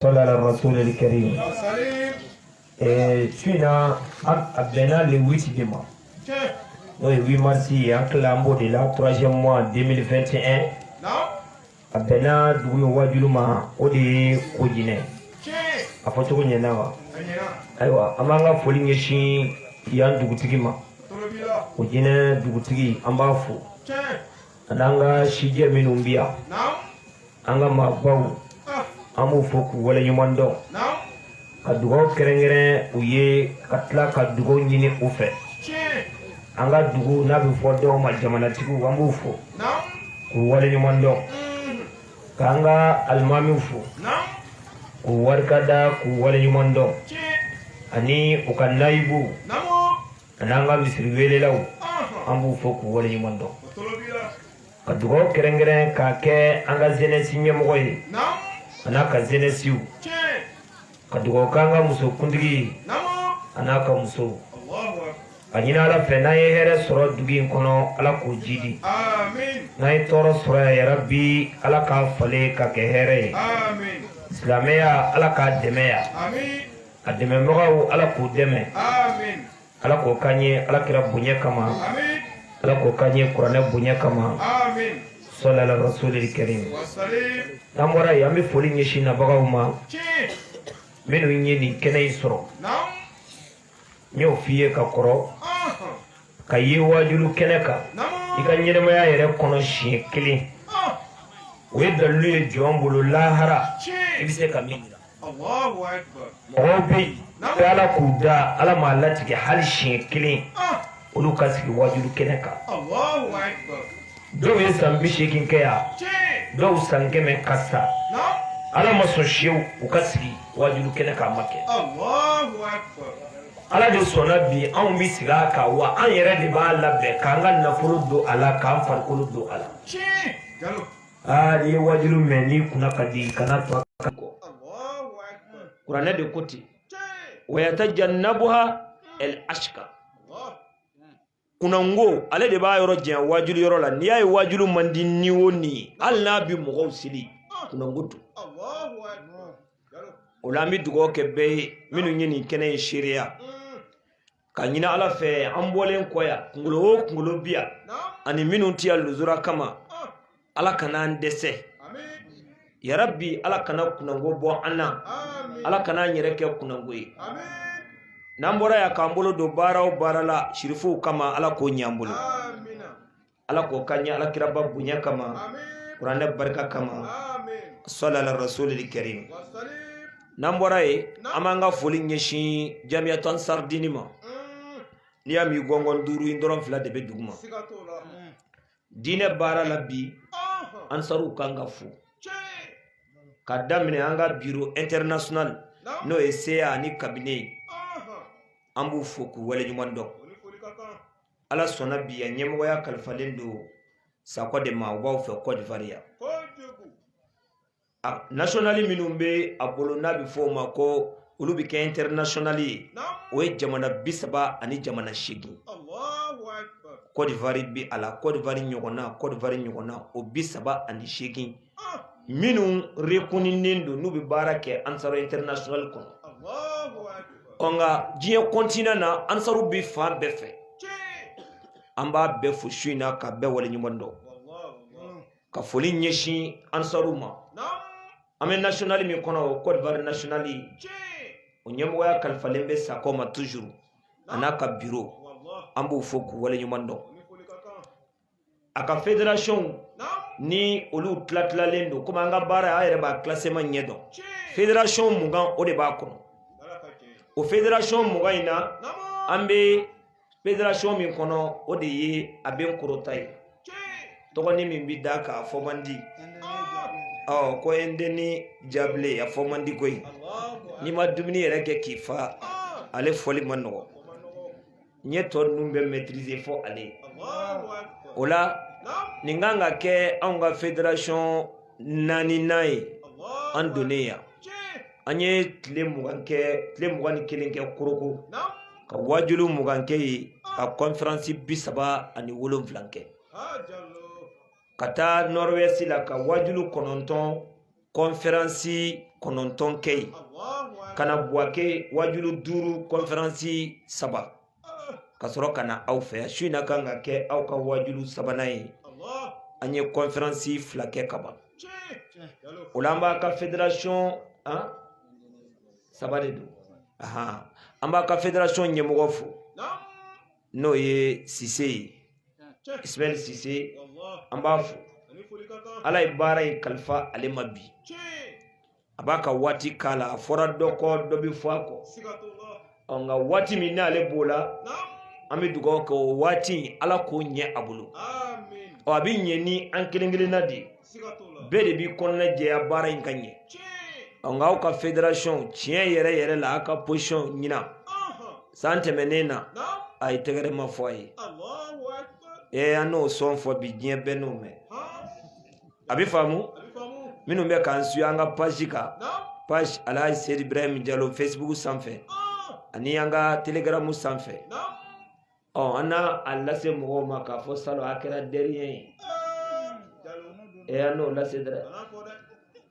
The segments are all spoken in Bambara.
Salli ala rasulil karim. Su in na a bɛnna le 8 de mois. N'o ye 8 mars ye an tilala an b'o de la troisième mois 2021 a bɛnna dugu min wajulu ma o de ye kojinɛ a fɔ cogo ɲɛna wa ayiwa an b'an ka foli ɲɛsin yan dugutigi ma kojinɛ dugutigi an b'a fo ani an ka sijɛ minnu bi yan an ka maabaw ah. an b'u fo k'u waleɲuman dɔn ka dugaw kɛrɛnkɛrɛn u ye ka tila ka dugaw ɲini u fɛ an ka dugu n'a bɛ fɔ dɔw ma jamanatigiw an b'u fo k'u waleɲuman dɔn mm. k'an ka alimamiw fo k'u barika da k'u waleɲuman dɔn ani u ka nayibuw an'an ka misiri weelelaw an b'u fo k'u waleɲuman dɔn ka dugaw kɛrɛnkɛrɛn k'a kɛ an ka zenɛsi ɲɛmɔgɔ ye an'a ka zenɛsiw ka dugaw k'an ka muso kuntigi ye an'a ka musow a ɲini ala fɛ n'an ye hɛrɛ sɔrɔ dugu in kɔnɔ ala k'o jiidi n'an ye tɔɔrɔ sɔrɔ yarabi ala k'a falen ka kɛ hɛrɛ ye silamɛya ala k'a dɛmɛ yan a dɛmɛbagaw ala k'u dɛmɛ ala k'o k'an ye ala kira bonya kama ala k'o k'an ye kuranɛ bonya kama salli ala rasulil karim n'an bɔra yen an bɛ foli ɲɛsin nabagaw ma minnu ye nin kɛnɛ in sɔrɔ n y'o f'i ye ka kɔrɔ ka ye waajulu kɛnɛ kan i ka ɲɛnamaya yɛrɛ kɔnɔ siɲɛ kelen o ye dalilu ye jɔn bolo lahara i bɛ se ka min mɔgɔw bɛ yen bɛ ala k'u da ala m'a latigɛ hali siɲɛ kelen olu ka sigi wajulu kɛnɛ kan dɔw ye san bi seegin kɛ yan dɔw san kɛmɛ ka sa ala ma sɔn sew u ka sigi wajulu kɛnɛ kan a ma kɛ ala de sɔnna bi anw bɛ sigi a kan wa an yɛrɛ de b'a labɛn k'an ka nafolo don a la k'an farikolo don a la Ah, ye wajulu mɛ ni kunna ka di kana to a kan kɔ kuranɛ de ko ten wa yatajannabuha el ashka kunango ale de b'a yɔrɔ janya wajulu yɔrɔ la n'i y'a ye wajulu man di ni o ni ye hali n'a bi mɔgɔw seli kunango don o la an bɛ dugawu kɛ bɛɛ ye minnu ye nin kɛnɛ in seereya k'a ɲini ala fɛ an bɔlen kɔ yan kunkolo o kunkolo bi yan ani minnu tɛ yan luzura kama ala kana an dɛsɛ yarabi ala kana kunango bɔ an na ala kana an yɛrɛ kɛ kunango ye n'an bɔra yan k'an bolo don baara o baara la sirifow kama ala k'o ɲɛ an bolo ala k'o ka ɲɛ ala kiraba bonya kama kuranɛ barika kama sɔlala rasulil karim n'an bɔra yen an b'an ka foli ɲɛsin jamiyatu ansaridini ma mm. n'i y'a mɛn gɔngɔn duuru in dɔrɔn fila de bɛ dugu ma mm. diinɛ baara la bi ansaruw kan ka fo ka daminɛ an ka biro international n'o ye seya ani kabine ye an b'u fo k'u waleɲuman dɔn ala sɔnna bi a ɲɛmɔgɔya kalifalen don sakɔ de ma o b'aw fɛ kɔdiwari yan nasonali minnu bɛ a bolo n'a bɛ fɔ o ma ko olu bɛ kɛ ɛntɛrinasonali ye o ye jamana bi saba ani jamana seegin kɔdiwari bɛ a la kɔdiwari ɲɔgɔnna kɔdiwari ɲɔgɔnna o bi saba ani seegin minnu rekuninen don n'u bɛ baara kɛ ansaru international kɔnɔ ɔ nka diɲɛ continent na ansaru bɛ fan bɛɛ fɛ an b'a bɛɛ fo su in na k'a bɛɛ waleɲuman dɔn ka foli ɲɛsin ansaru ma an bɛ national min kɔnɔ o Côte d'Ivoire national o ɲɛmɔgɔya kalifalen bɛ Sakɔ ma toujours a n'a ka bureau an b'u fo k'u waleɲuman dɔn a ka federasɔnw ni olu tilatilalen don komi an ka baara a yɛrɛ b'a classement ɲɛ dɔn federasɔn mugan o de b'a kɔnɔ o federasɔn mugan in na an bɛ federasɔn min kɔnɔ o de ye Abengourou ta ye tɔgɔnin min bɛ d'a kan a fɔ man di ɔ ko Indénié-Djuablin a fɔ man di koyi n'i ma dumuni yɛrɛ kɛ k'i fa ale fɔli man nɔgɔ n ye tɔ ninnu bɛɛ maîtriser fo ale o la nin kan ka kɛ anw ka fédération naaninan ye an donnen yan an ye tile mugan kɛ tile mugan ni kelen kɛ Korhogo ka waajuli mugan kɛ yen ka conférence bi saba ani wolonfila kɛ ka taa nord-ouest la ka waajuli kɔnɔntɔn kɔnfɛransi kɔnɔntɔn kɛ yen ka na buwake wajulu duuru kɔnfɛransi saba ka sɔrɔ ka na aw fɛ su in na kan ka kɛ aw ka wajulu sabanan ye an ye kɔnfɛransi fila kɛ kaban o la an b'a ka federasɔn saba de don an b'a ka federasɔn ɲɛmɔgɔ fo n'o ye sise ye ismail sise an b'a fo ala ye baara in kalifa ale ma bi a b'a ka waati k'a la a fɔra dɔ kɔ dɔ bɛ fɔ a kɔ ɔ nka waati min n'ale b'o la an bɛ dugawu kɛ o waati in ala k'o ɲɛ a bolo ɔ a bɛ ɲɛ ni an kelen kelenna de ye bɛɛ de b'i kɔnɔna jɛya baara in ka ɲɛ nka aw ka federasɔn tiɲɛ yɛrɛ yɛrɛ la aw ka pozisɔn ɲina san tɛmɛnen na a ye tɛgɛrɛ ma fɔ a ye ee an n'o sɔn fɔ bi diɲɛ bɛɛ n'o mɛn a bɛ faamu minnu bɛ k'an suivre an ka page kan page alahaji seyidi ibrahim jalo fesibuku sanfɛ ani an ka telegaramu sanfɛ ɔ an n'a lase mɔgɔw ma k'a fɔ salon a kɛra dɛriɲɛ ye ɛ an n'o lase dɛ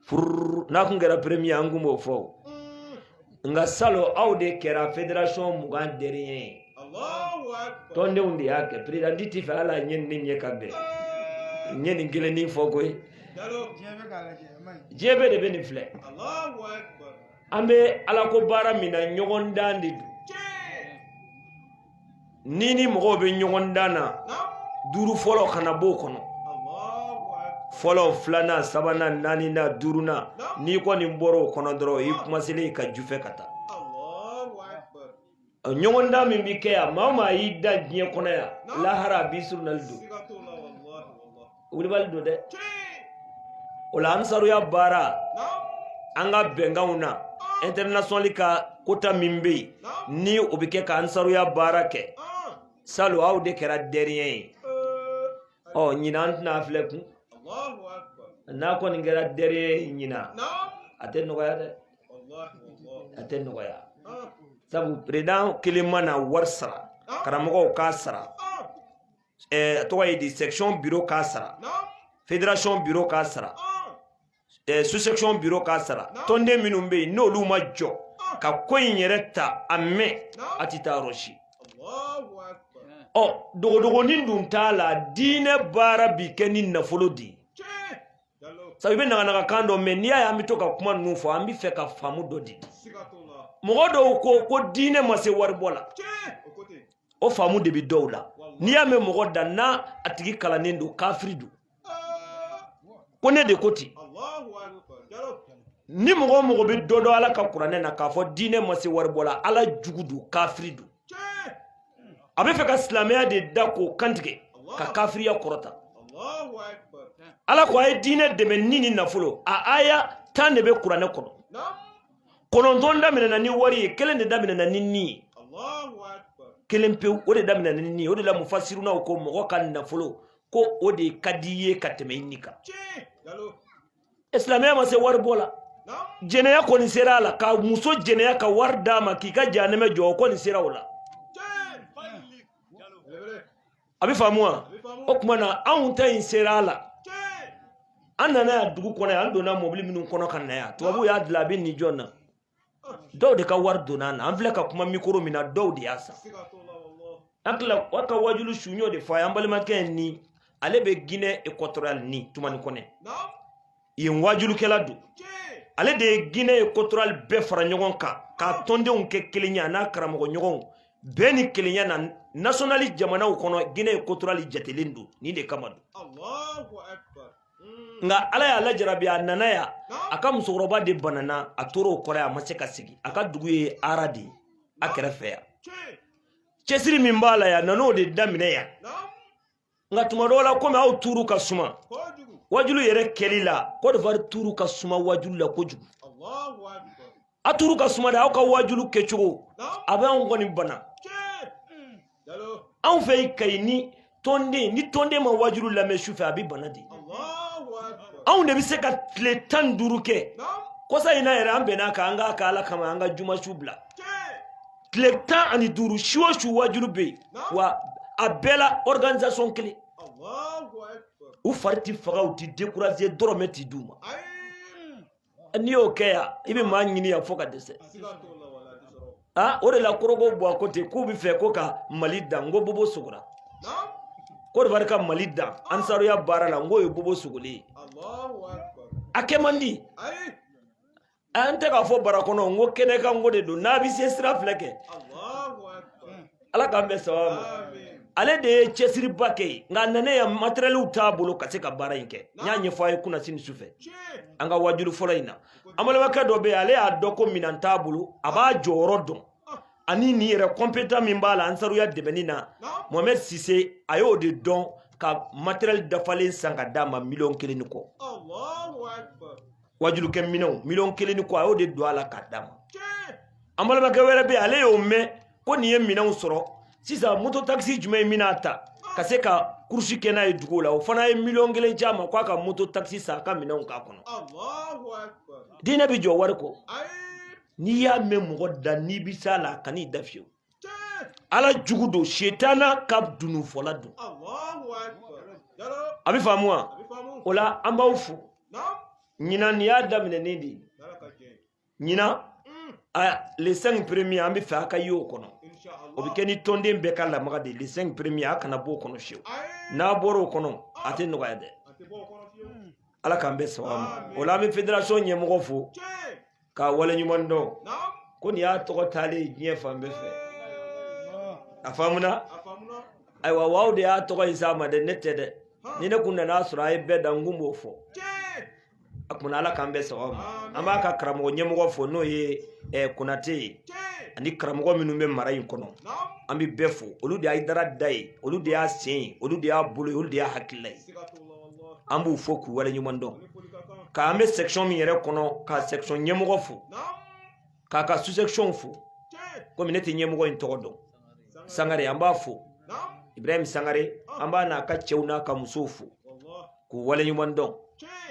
furu n'a kun kɛra premier an kun b'o fɔ nka salon aw de kɛra federation mugan dɛriɲɛ ye tɔndenw de y'a kɛ perezidanti ti fɛ ala a ɲɛ ni ɲɛ ka bɛn n ɲɛ nin kelen ni fɔ koyi diɲɛ bɛɛ de bɛ nin filɛ an bɛ alako baara min na ɲɔgɔndan de don n'i ni mɔgɔw bɛ ɲɔgɔndan na duuru fɔlɔ kana b'o kɔnɔ fɔlɔ filanan sabanan naaninan duurunan n'i kɔni bɔra o kɔnɔ dɔrɔn i kumaselen ka ju fɛ ka taa ɲɔgɔndan min bɛ kɛ yan maa maa y'i da diɲɛ kɔnɔ yan lahara a b'i surunali don wulibali don dɛ o la ansaruya baara an ka bɛnkanw na internationali ka kota min bɛ yen ni o bɛ kɛ ka ansaruya baara kɛ salon aw de kɛra dɛriɲɛ ye ɔ ɲinan an tɛna filɛ kun n'a kɔni kɛra dɛriɲɛ ye ɲinan a tɛ nɔgɔya dɛ a tɛ nɔgɔya sabu perezidan kelen mana wari sara karamɔgɔw k'a sara ɛɛ a tɔgɔ ye di section biro k'a sara federation biro k'a sara ɛɛ sous section biro k'a sara tɔnden minnu bɛ yen n'olu ma jɔ ka ko in yɛrɛ ta a mɛn a tɛ taa yɔrɔ si. ɔ dogodogonin dun t'a la diinɛ baara bi kɛ ni nafolo de ye sabu i bɛ naganaga kan dɔ mɛn n'i y'a ye an bɛ to ka kuma ninnu fɔ an bɛ fɛ ka faamu dɔ di mɔgɔ dɔw ko ko diinɛ ma se waribɔ la o faamu de bɛ dɔw la n'i y'a mɛn mɔgɔ da na a tigi kalannen don kafiri don ko ne de ko ten ni mɔgɔ o mɔgɔ bɛ dɔ dɔn ala ka kuranɛ na k'a fɔ diinɛ ma se waribɔ la ala jugu don kafiri don a bɛ fɛ ka silamɛya de da k'o kantigɛ ka kafiriya kɔrɔta ala ko a ye diinɛ dɛmɛ ni ni nafolo a aya tan de bɛ kuranɛ kɔnɔ kɔnɔntɔn daminɛna ni wari ye kelen de daminɛna ni ni ye kelen pewu o de daminɛna ni ni ye o de la mufasirunaw ko mɔgɔ ka nafolo ko o de ka di i ye ka tɛmɛ i ni kan islamiya ma se wari bɔ la jɛnɛya kɔni sera a la ka muso jɛnɛya ka wari d'a ma k'i ka janɛmɛ jɔ o kɔni sera o la a bɛ faamu wa o kuma na anw ta in sera a la an nana yan dugu kɔnɔ yan an donna mɔbili minnu kɔnɔ ka na yan tubabuw y'a dilan a bɛ nin jɔn na dɔw de ka wari donna na an filɛ ka kuma mikoro min na dɔw de y'a san an tila wa ka wajulu su n y'o de fɔ a ye an balimakɛ ni ale bɛ ginɛ ekɔtɔriyali ni tumani kɔnɛ yen wajulukɛla don ale de ye ginɛ ekɔtɔriyali bɛɛ fara ɲɔgɔn kan k'a tɔndenw kɛ kelen ye a n'a karamɔgɔ ɲɔgɔnw bɛɛ ni kelenya na nasɔnali jamanaw kɔnɔ ginɛ ekɔtɔriyali jatelen don nin de kama don nka ala y'a lajarabi a nana yan a ka musokɔrɔba de banana a tora o kɔrɔ yan a ma se ka segi a ka dugu ye arade ye a kɛrɛfɛ yan cɛsiri min b'a la yan nan'o de daminɛ yan nka tuma dɔw la komi aw turu ka suma wajulu yɛrɛ kɛli la kɔdiwari turu ka suma wajulu la kojugu a turu ka suma de aw ka waajulu kɛcogo a bɛ anw kɔni bana anw fɛ yen kayi ni tɔnden ni tɔnden ma waajulu lamɛn su fɛ a bɛ bana de anw de bɛ se ka tile tan ni duuru kɛ kɔsa in na yɛrɛ an bɛnna a kan an k'a kɛ ala kama an ka juma su bila tile tan ani duuru su o su waajulu bɛ yen wa a bɛɛ la organisation kelen u fari ti faga u ti décourager dɔrɔmɛ ti d'u ma n'i y'o kɛ yan i bɛ maa ɲini yan fo ka dɛsɛ aa o de la korogo bɔ a ko ten k'u bɛ fɛ ko ka mali dan n ko bobo sogora kodiwari ka mali dan ansaruya baara la n k'o ye bobo sogolen ye a kɛ man di an tɛ k'a fɔ bara kɔnɔ n ko kɛnɛ kan ko de don n'a bɛ se sira filɛ kɛ ala k'an bɛn sababu ma ale de ye cɛsiriba kɛ yen nka nanen yan matɛrɛliw t'a bolo ka se ka baara in kɛ n y'a ɲɛfɔ a ye kunasini sufɛ an ka wajulu fɔlɔ in na an balimakɛ dɔ bɛ yen ale y'a dɔn ko minan t'a bolo a b'a jɔyɔrɔ dɔn ani nin yɛrɛ kɔnpetan min b'a la ansaruya dɛmɛni na mohamɛd sise a y'o de dɔn ka matɛrɛli dafalen san ka d'a ma miliyɔn kelen ni kɔ wajulukɛ minɛnw miliyɔn kelen ni kɔ a y'o de don a la k'a d'a ma an balimakɛ wɛrɛ bɛ yen ale y'o mɛn ko nin ye minɛnw sɔrɔ sisan moto takisi jumɛn ye minan ta ka se ka kurusi kɛ n'a ye dugu la o fana ye miliyɔn kelen ci a ma k'a ka moto takisi san a ka minɛnw k'a kɔnɔ diinɛ bɛ jɔ wari kɔ n'i y'a mɛn mɔgɔ da n'i bɛ s'a la kan'i da fiyewu ala jugu don setana ka dununfɔla don a bɛ faamu wa o la an b'aw fo ɲinan nin y'a daminɛnen de ye ɲinan les 5 premiers an b'a fɛ a ka ye o kɔnɔ o bɛ kɛ ni tɔnden bɛɛ ka lamaga de ye les 5 premiers a kana bɔ o kɔnɔ fiyewu n'a bɔra o kɔnɔ a tɛ nɔgɔya dɛ ala k'an bɛn sababu ma o la an bɛ fédération ɲɛmɔgɔ fo k'a waleɲuman dɔn ko nin y'a tɔgɔ taalen ye diɲɛ fan bɛɛ fɛ a faamuna ayiwa aw de y'a tɔgɔ in s'a ma dɛ ne tɛ dɛ ni ne kun nan'a sɔrɔ a ye bɛɛ dan n kun b'o fɔ a kumana ala k'an bɛn sababu ma an b'a ka karamɔgɔ ɲɛmɔgɔ fo n'o ye eh, konate ye ani karamɔgɔ minnu bɛ mara in kɔnɔ an bɛ bɛɛ fo olu de y'a dara da ye olu de y'a sen ye olu de y'a bolo ye olu de y'a hakilila ye an b'u fo k'u waleɲuman dɔn k'an bɛ section min yɛrɛ kɔnɔ ka section ɲɛmɔgɔ fo k'a ka sous-sectionw fo komi ne tɛ ɲɛmɔgɔ in tɔgɔ dɔn sangare an b'a fo ibrahim sangare an b'a n'a ka cɛw n'a ka musow fo k'u waleɲuman dɔn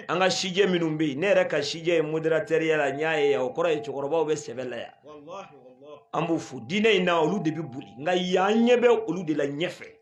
an ka sijɛ minnu bɛ yen ne yɛrɛ ka sijɛ ye modérateurya la n y'a ye yan o kɔrɔ ye cɛkɔrɔbaw bɛ sɛbɛ la yan an b'u fo diinɛ in na olu de bɛ boli nka an ɲɛ bɛ olu de la ɲɛfɛ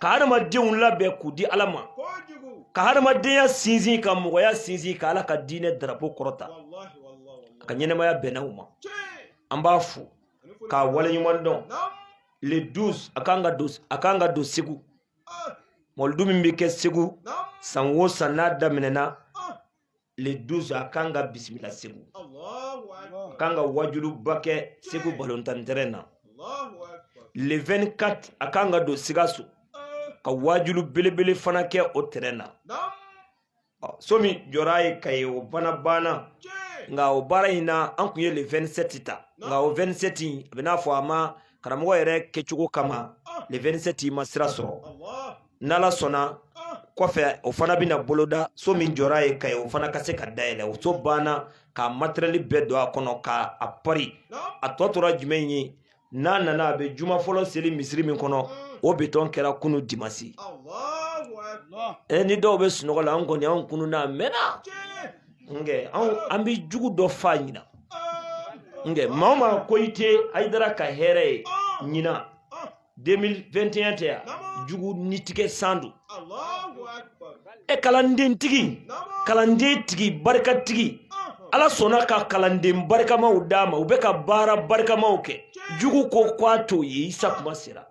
ka hadamadenw labɛn k'u di ala ma ka hadamadenya sinsin ka mɔgɔya sinsin ka ala ka diinɛ darapo kɔrɔta a ka ɲɛnamaya bɛnna u ma an b'a fo k'a waleɲuman dɔn le 12 a kan ka don segu mɔlidu min bɛ kɛ segu san o san n'a daminɛna le 12 a kan ka bisimila segu a kan ka wajuluba kɛ segu balɔntan terɛn na le 24 a kan ka don sikaso ka wajulu belebele fana kɛ o terɛn na so min jɔra a ye kayi o fana banna nka o baara in na an kun ye le 27 ta nka o 27 in a bɛ n'a fɔ a ma karamɔgɔ yɛrɛ kɛcogo kama le 27 ma sira sɔrɔ n'ala sɔnna kɔfɛ o fana bɛna boloda so min jɔra a ye kayi o fana ka se ka dayɛlɛn o so banna ka materiyɛli bɛɛ don a kɔnɔ ka a pari a tɔ tora jumɛn ye n'a nana a bɛ juma fɔlɔ seli misiri min kɔnɔ o betɔn kɛra kunu dimasi e ni dɔw bɛ sunɔgɔ la an kɔni an kununna mɛnna nkɛ an bɛ jugu dɔ fa ɲinan nkɛ maa o maa ko i tɛ hayidara ka hɛrɛ ye ɲinan 2021 tɛ yan jugu ni tigɛ san don e kalanden tigi kalanden tigi barika tigi ala sɔnna ka kalanden barikamaw d'a ma u bɛ ka baara barikamaw kɛ jugu ko k'a to yen i sa kuma sera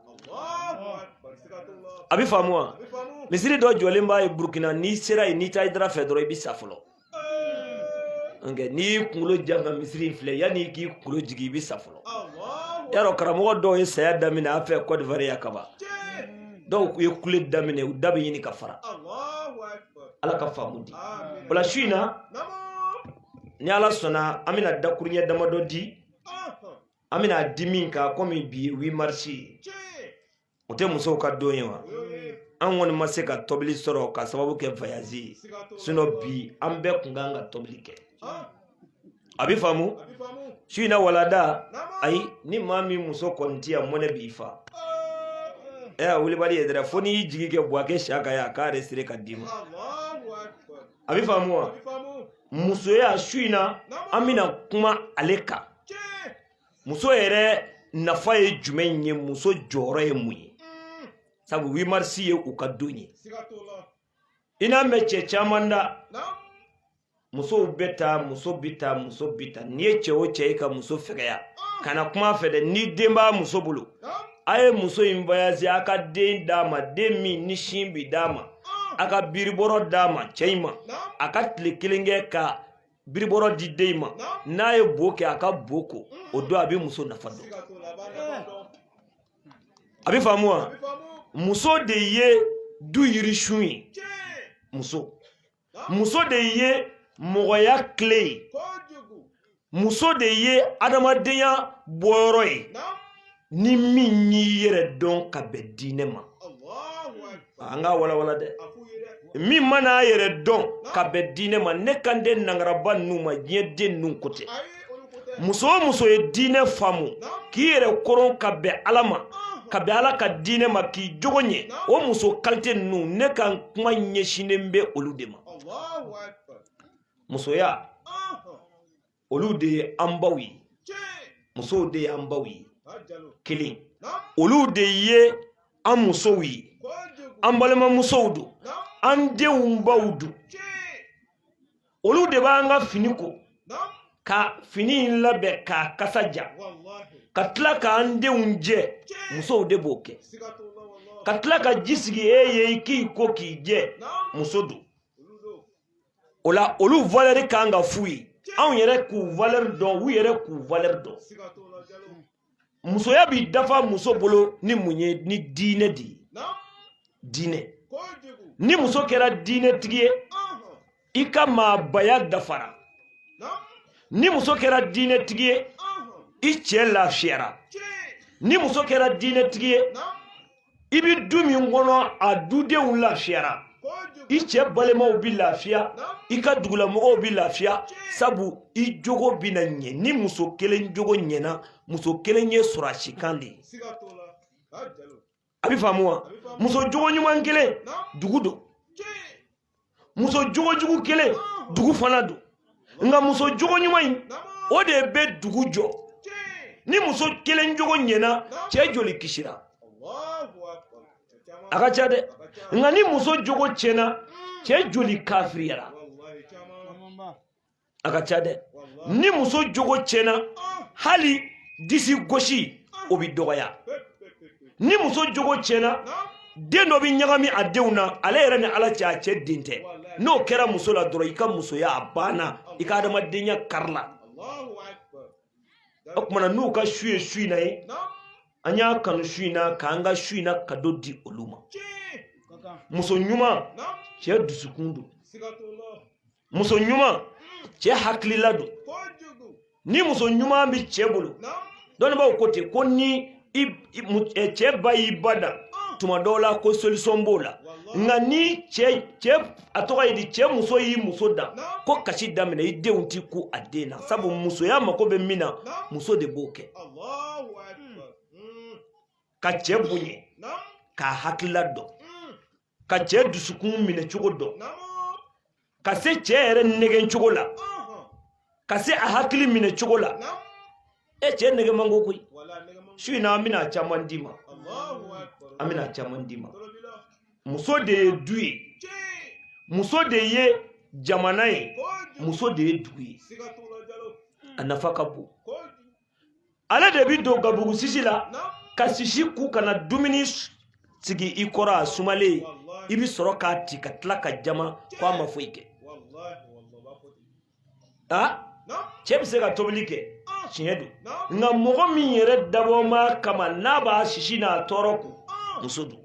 a bɛ faamu wa misiri dɔ jɔlen b'a ye burukina n'i sera yen n'i tɛ hayidara fɛ dɔrɔn i bɛ sa fɔlɔ nka n'i y'i kunkolo jan ka misiri filɛ yanni i k'i kunkolo jigin i bɛ sa fɔlɔ yarɔ karamɔgɔ dɔw ye saya daminɛ an fɛ Côte d'Ivoire yan kaban dɔw ye kule daminɛ u da bɛ ɲini ka fara ala ka faamu di o la su in na ni ala sɔnna an bɛna dakuruɲɛ damadɔ di an bɛna a di min kan komi bi ye 8 mars ye o tɛ musow ka don ye wa an kɔni ma se ka tobili sɔrɔ ka sababu kɛ vayazi ye sinɔ bi an bɛɛ kun ka kan ka tobili kɛ a bɛ faamu su in na walada ayi ni maa min muso kɔni ti yan mɔnɛ b'i fa ɛ a wulibali ye dɛrɛ fo n'i y'i jigi kɛ buwakɛ siyaka ye a k'a yɛrɛ sere ka d'i ma a bɛ faamu wa musoya su in na an bɛna kuma ale kan muso yɛrɛ nafa ye jumɛn ye muso jɔyɔrɔ ye mun ye sabu 8 mars ye u ka don ye i n'a mɛn cɛ caman da musow bɛ tan muso bɛ tan muso bɛ tan n'i ye cɛ o cɛ ye ka muso fɛgɛya kana kuma a fɛ dɛ ni den b'a muso bolo a ye muso in vayase a ka den d'a ma den min ni sin bi d'a ma a ka biribɔrɔ d'a ma cɛ in ma a ka tile kelen kɛ ka biribɔrɔ di den ma n'a ye bo kɛ a ka bo ko o don a bɛ muso nafa dɔn a bɛ faamu wa muso de ye du yirisun ye muso muso de ye mɔgɔya tile ye muso de ye adamadenya bɔyɔrɔ ye ni min y'i yɛrɛ dɔn ka bɛn diinɛ ma an k'a walawala dɛ min mana a yɛrɛ dɔn ka bɛn diinɛ ma ne kan tɛ nangaraba ninnu ma diɲɛ den ninnu ko tɛ muso o muso ye diinɛ faamu k'i yɛrɛ koron ka bɛn ala ma ka bɛn ala ka diinɛ ma k'i jogo ɲɛ o muso kalite ninnu ne ka kuma ɲɛsinnen bɛ olu de ma musoya olu de ye an baw ye musow de ye an baw ye kelen olu de ye an musow ye an balimamusow don an denw baw don olu de b'an ka fini ko ka fini in labɛn k'a kasa diya ka tila k'an denw jɛ musow de b'o kɛ ka tila ka ji sigi e ye i k'i ko k'i jɛ muso don o la olu valɛri ka kan ka f'u ye anw yɛrɛ k'u valɛri dɔn u yɛrɛ k'u valɛri dɔn musoya bi dafa muso bolo ni mun ye ni diinɛ de ye diinɛ ni muso kɛra diinɛtigi ye i ka maabaya dafara ni muso kɛra diinɛtigi ye i cɛ lafiyara ni muso kɛra diinɛtigi ye i bi du min kɔnɔ a dudenw lafiyara i cɛ balimaw bi lafiya i ka dugulamɔgɔw bi lafiya sabu i jogo bina ɲɛ ni muso kelen jogo ɲɛna muso kelen ye sɔrɔdasi kan de ye a bi faamu wa muso jogo ɲuman kelen dugu don muso jogo jugu kelen dugu fana don nka muso jogo ɲuman in o de bɛ dugu jɔ ni muso kelen jogo ɲɛna cɛ joli kisira a ka ca dɛ nka ni muso jogo tiɲɛna cɛ joli kafiriyara a ka ca dɛ ni muso jogo tiɲɛna hali disi gosi o bɛ dɔgɔya ni muso jogo tiɲɛna den dɔ bɛ ɲagami a denw na ale yɛrɛ ni ala cɛ a cɛ den tɛ n'o kɛra muso la dɔrɔn i ka musoya a banna i ka adamadenya karila o kumana n'u ka su ye su in na ye an y'a kanu su in na k'an ka su in na kado di olu ma muso ɲuman cɛ dusukun don muso ɲuman cɛ hakilila don ni muso ɲuman bɛ cɛ bolo dɔnnibaaw ko ten ko ni eh, cɛ ba y'i ba dan ah. tuma dɔw la ko solisɔn b'o la nka ni cɛ cɛ a tɔgɔ ye di cɛ muso y'i muso dan ko kasi daminɛ i denw ti ku a den na sabu musoya mako bɛ min na muso de b'o kɛ hmm. ka cɛ bonya k'a hakilila dɔn ka cɛ dusukun minɛ cogo dɔn ka se cɛ yɛrɛ nɛgɛn cogo la ka se a hakili minɛ cogo la e cɛ nɛgɛn man go koyi su in na an bɛna caman d'i ma an bɛna caman d'i ma muso de ye du ye muso de ye jamana ye muso de ye dugu ye a nafa ka bon ale de bi don gabugu sisi la ka sisi kun ka na dumuni sigi i kɔrɔ a sumalen i bi sɔrɔ k'a ti ka tila k'a jama ko a ma foyi kɛ a cɛ bi se ka tobili kɛ tiɲɛ don nka mɔgɔ min yɛrɛ dabɔma kama n'a b'a sisi n'a tɔɔrɔ kun muso don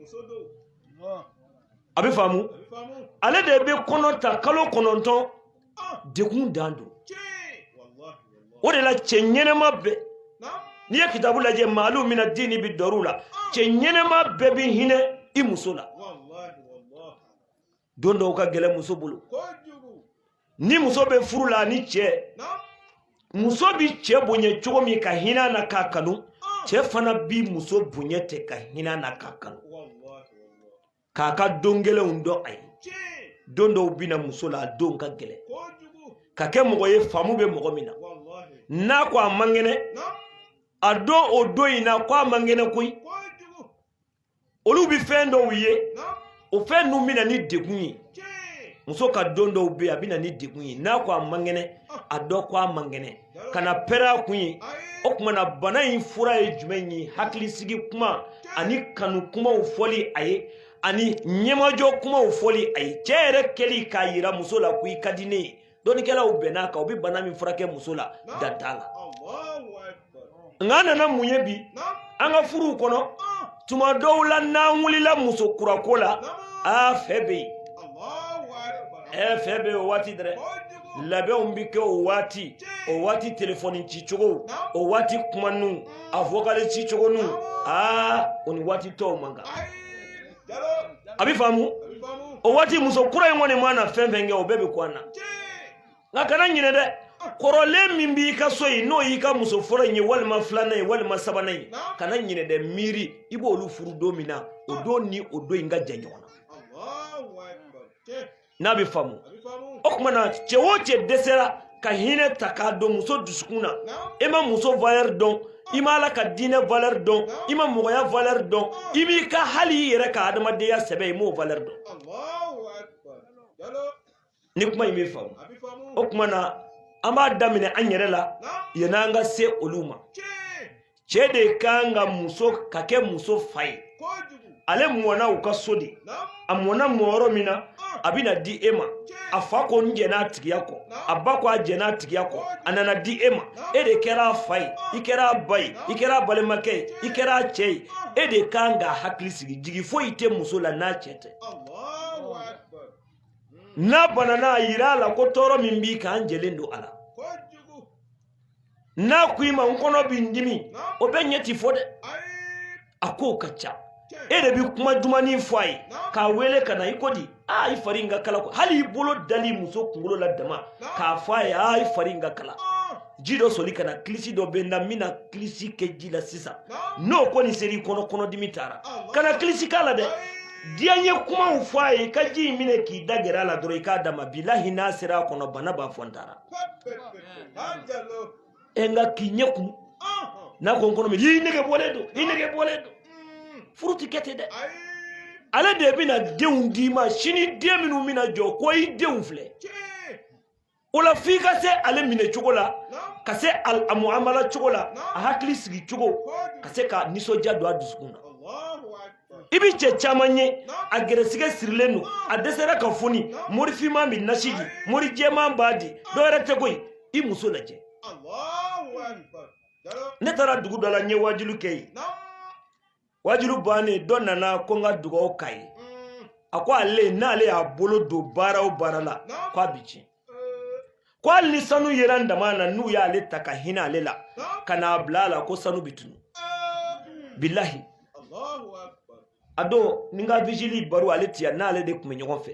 a bɛ faamu ale de bɛ kɔnɔ ta kalo kɔnɔntɔn degun dan don o de la cɛ ɲɛnɛma bɛɛ n'i ye kitabu lajɛ maalu mina diini bi dɔrɔw la cɛ ɲɛnɛma bɛɛ bi hinɛ i muso la don dɔw ka gɛlɛ muso bolo ni muso bɛ furu la ni cɛ muso bi cɛ bonya cogo min ka hinɛ na k'a kanu cɛ fana bi muso bonya ten ka hinɛ na k'a kanu k'a ka don gɛlɛnw dɔn a ye don dɔw bi na muso la a don ka gɛlɛn ka kɛ mɔgɔ ye faamu bɛ mɔgɔ min na n'a ko a man kɛnɛ a dɔn o don in na ko a man kɛnɛ koyi olu bɛ fɛn dɔw ye o fɛn ninnu bɛ na ni degun ye muso ka don dɔw bɛ a bɛ na ni degun ye n'a ko a man kɛnɛ a dɔn ko a man kɛnɛ kana pɛrɛn a kun ye o tuma na bana in fura ye jumɛn ye hakilisigi kuma ani kanu kumaw fɔli a ye ani ɲɛmajɔ kumaw fɔli a ye cɛ yɛrɛ kɛli k'a yira muso la ko i ka di ne ye dɔnnikɛlaw bɛnn'a kan o bɛ bana min furakɛ muso la dan t'a la nka an nana mun ye bi an ka furuw kɔnɔ tuma dɔw la n'an wulila muso kurako la a fɛ bɛ yen ɛ fɛ bɛ yen o waati dɛrɛ labɛnw bɛ kɛ o waati o waati telefɔni ci cogo o waati kuma nu a vokali ci cogo nu aa o ni waati tɔw man kan a bɛ faamu o waati muso kura in kɔni mana fɛn fɛn kɛ o bɛɛ bɛ kun an na nka kana ɲinɛ dɛ kɔrɔlen min b'i ka so yen n'o y'i ka muso fɔlɔ in ye walima filanan ye walima sabanan ye kana ɲinɛ dɛ miiri i b'olu furu don min na o don ni o don in ka jan ɲɔgɔn na n'a bɛ faamu o tuma na cɛ o cɛ dɛsɛra ka hinɛ ta k'a don muso dusukun na i ma muso valɛri dɔn i ma ala ka diinɛ valɛri dɔn i ma mɔgɔya valɛri dɔn i b'i ka hali i yɛrɛ ka adamadenya sɛbɛ i m'o valɛri dɔn ni kuma in bɛ faamu a bɛ faamu o kuma na an b'a daminɛ an yɛrɛ la yanni an ka se olu ma cɛ de kan ka muso ka kɛ muso fa ye kojugu ale mɔna u ka so de a mɔna mɔ yɔrɔ min na a bɛna di e ma a fa ko n jɛnn'a tigiya kɔ a ba ko a jɛnn'a tigiya kɔ a nana di e ma e de kɛra a fa ye i kɛra a ba ye i kɛra a balimakɛ ye i kɛra a cɛ ye e de kan k'a hakili sigi jigi foyi tɛ muso la n'a cɛ tɛ Allahu akbar n'a banana a yira a la ko tɔɔrɔ min b'i kan an jɛlen don a la n'a ko i ma n kɔnɔ bɛ n dimi o bɛ ɲɛ ti fɔ dɛ a kow ka ca e de bɛ kuma dumani fɔ a ye k'a wele ka na i ko di aa i fari in ka kala ko hali i bolo dali muso kunkolo la dama k'a fɔ a ye aa i fari in ka kala ji dɔ soli ka na kilisi dɔ bɛ n na n bɛna kilisi kɛ ji la sisan n'o kɔni sera i kɔnɔ kɔnɔdimi taara kana kilisi k'a la dɛ diyanye kumaw fɔ a ye i ka ji in minɛ k'i da gɛrɛ a la dɔrɔn i k'a d'a ma bilahi n'a sera a kɔnɔ bana b'a fɔ n taara ɛ nka k'i ɲɛ kumu n'a ko n kɔnɔ mi i nege bɔlen don i nege bɔlen don furu ti kɛ ten dɛ ale de bɛna denw d'i ma sini den minnu bɛna jɔ ko i denw filɛ o la f'i ka se ale minɛ cogo la ka se a muamala cogo la a hakili sigi cogo ka se ka nisɔndiya don a dusukun na i bi cɛ caman ye a gɛrɛsigɛ sirilen don a dɛsɛra ka foni mori finman bɛ nasi di mori jɛman b'a di dɔwɛrɛ tɛ koyi i muso lajɛ ne taara dugu dɔ la n ye wajuli kɛ yen wajuli bannen dɔ nana ko n ka dugawu k'a ye a ko ale n'ale y'a bolo don baara o baara la ko a bi tiɲɛ ko hali ni sanu yera daman na n'u y'ale ta ka hinɛ ale la ka n'a bila a la ko sanu bi tunu bilahi a don ni n ka vigili baro ale ti yan n'ale de tun bɛ ɲɔgɔn fɛ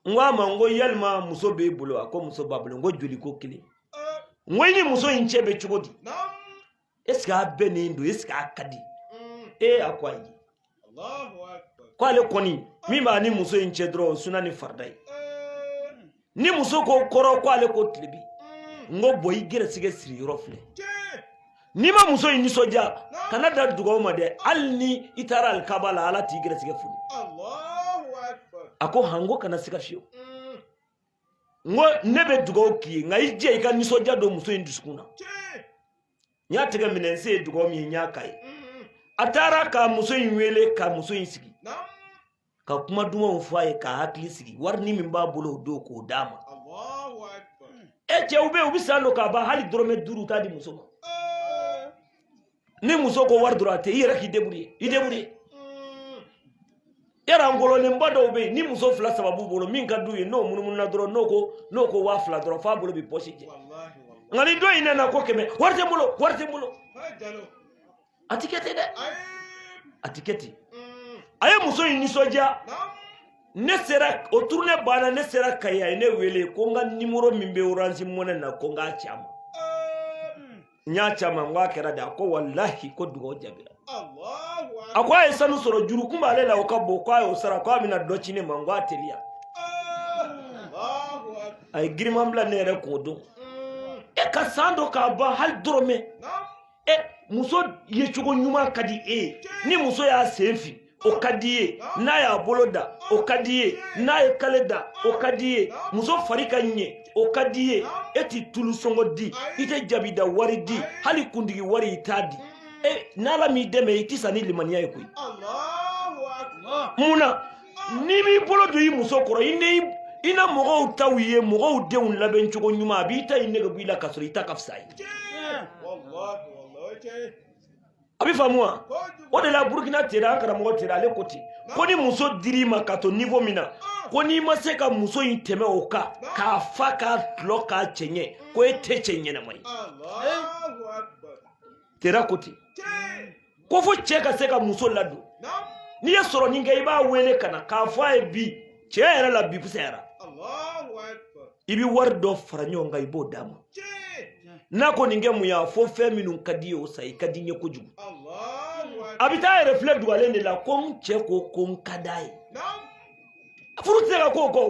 n ko a ma n ko yalima muso b'e bolo a ko muso b'a bolo n ko joli ko kelen n ko i ni muso in cɛ bɛ cogo di est ce que a bɛnnen don est ce que a ka di mm. ee a ko ayi ko ale kɔni min b'a ni muso in cɛ dɔrɔn o suna ni farida ye eh. ni muso ko kɔrɔn ko ale ko tilebi mm. n ko bon i gɛrɛsigɛ siri yɔrɔ filɛ n'i ma muso in nisɔndiya kana da dugawu ma dɛ hali ni i taara alikaba la ala t'i gɛrɛsigɛ foni a ko han n ko kana siga fiyewu n ko ne bɛ dugawu k'i ye nka i jija i ka nisɔndiya don muso in dusukun na n y'a tigɛ minɛ n se ye dugawu min ye n y'a k'a ye a taara ka muso in wele ka muso in sigi ka kuma dumanw fɔ a ye k'a hakili sigi warinin min b'a bolo o don k'o d'a ma e cɛw bɛ yen u bɛ san dɔ k'a ban hali dɔrɔmɛ duuru u t'a di muso ma ni muso ko wari dɔrɔn a tɛ i yɛrɛ k'i débrouiller i débrouiller yara ngololenba dɔw bɛ yen ni muso fila saba b'u bolo min ka d'u ye n'o munumununa dɔrɔn n'o ko n'o ko waa fila dɔrɔn f'a bolo bɛ pɔsi jɛ nka ni dɔ in nana ko kɛmɛ wari tɛ n bolo wari tɛ n bolo a ti kɛ ten dɛ a ti kɛ ten a ye muso in nisɔndiya ne sera o tournée banna ne sera kayi a ye ne wele ko n ka nimɔrɔ min bɛ orange money na ko n k'a ci a ma n y'a c'a ma n ko a kɛra di a ko walahi ko dugawu jaabira a ko a ye sanu sɔrɔ juru kun b'ale la o ka bon ko a y'o sara ko a bɛna dɔ ci ne ma n ko a teliya a ye giriman bila ne yɛrɛ kun o don e ka san dɔ k'a ban hali dɔrɔmɛ e muso ye cogo ɲuman ka di e ye ni muso y'a sen fin o ka d'i ye n'a y'a bolo da o ka d'i ye n'a ye kale da o ka d'i ye muso fari ka ɲɛ o ka d'i ye e ti tulu sɔngɔ di i tɛ jabida wari di hali kundigi wari i t'a di e n'ala m'i dɛmɛ i tɛ sa ni limaniya ye koyi mun na n'i m'i bolo don i muso kɔrɔ i na mɔgɔw taw ye mɔgɔw denw labɛn cogo ɲuman a b'i ta i nege bɔ i la k'a sɔrɔ i ta ka fisa a ye a bɛ faamu wa o de la burukina tera an karamɔgɔ tera ale ko ten ko ni muso dir'i ma ka to nivo min na ko n'i ma se ka muso in tɛmɛ o kan k'a fa k'a tulɔ k'a cɛɲɛ ko e tɛ cɛ ɲɛnama ye tera ko ten ko fo cɛ ka se ka muso ladon n'i ye sɔrɔnin kɛ i b'a wele ka na k'a fɔ a ye bi cɛ yɛrɛ la bi fisayara i bɛ wari dɔ fara ɲɔgɔn kan i b'o d'a ma n'a ko nin kɛ mun y'a fɔ fɛn minnu ka d'i ye o san i ka di n ye kojugu a bɛ taa yɛrɛ filɛ dugalen de la ko n cɛ ko ko n ka d'a ye furu tɛ se ka k'o kɔ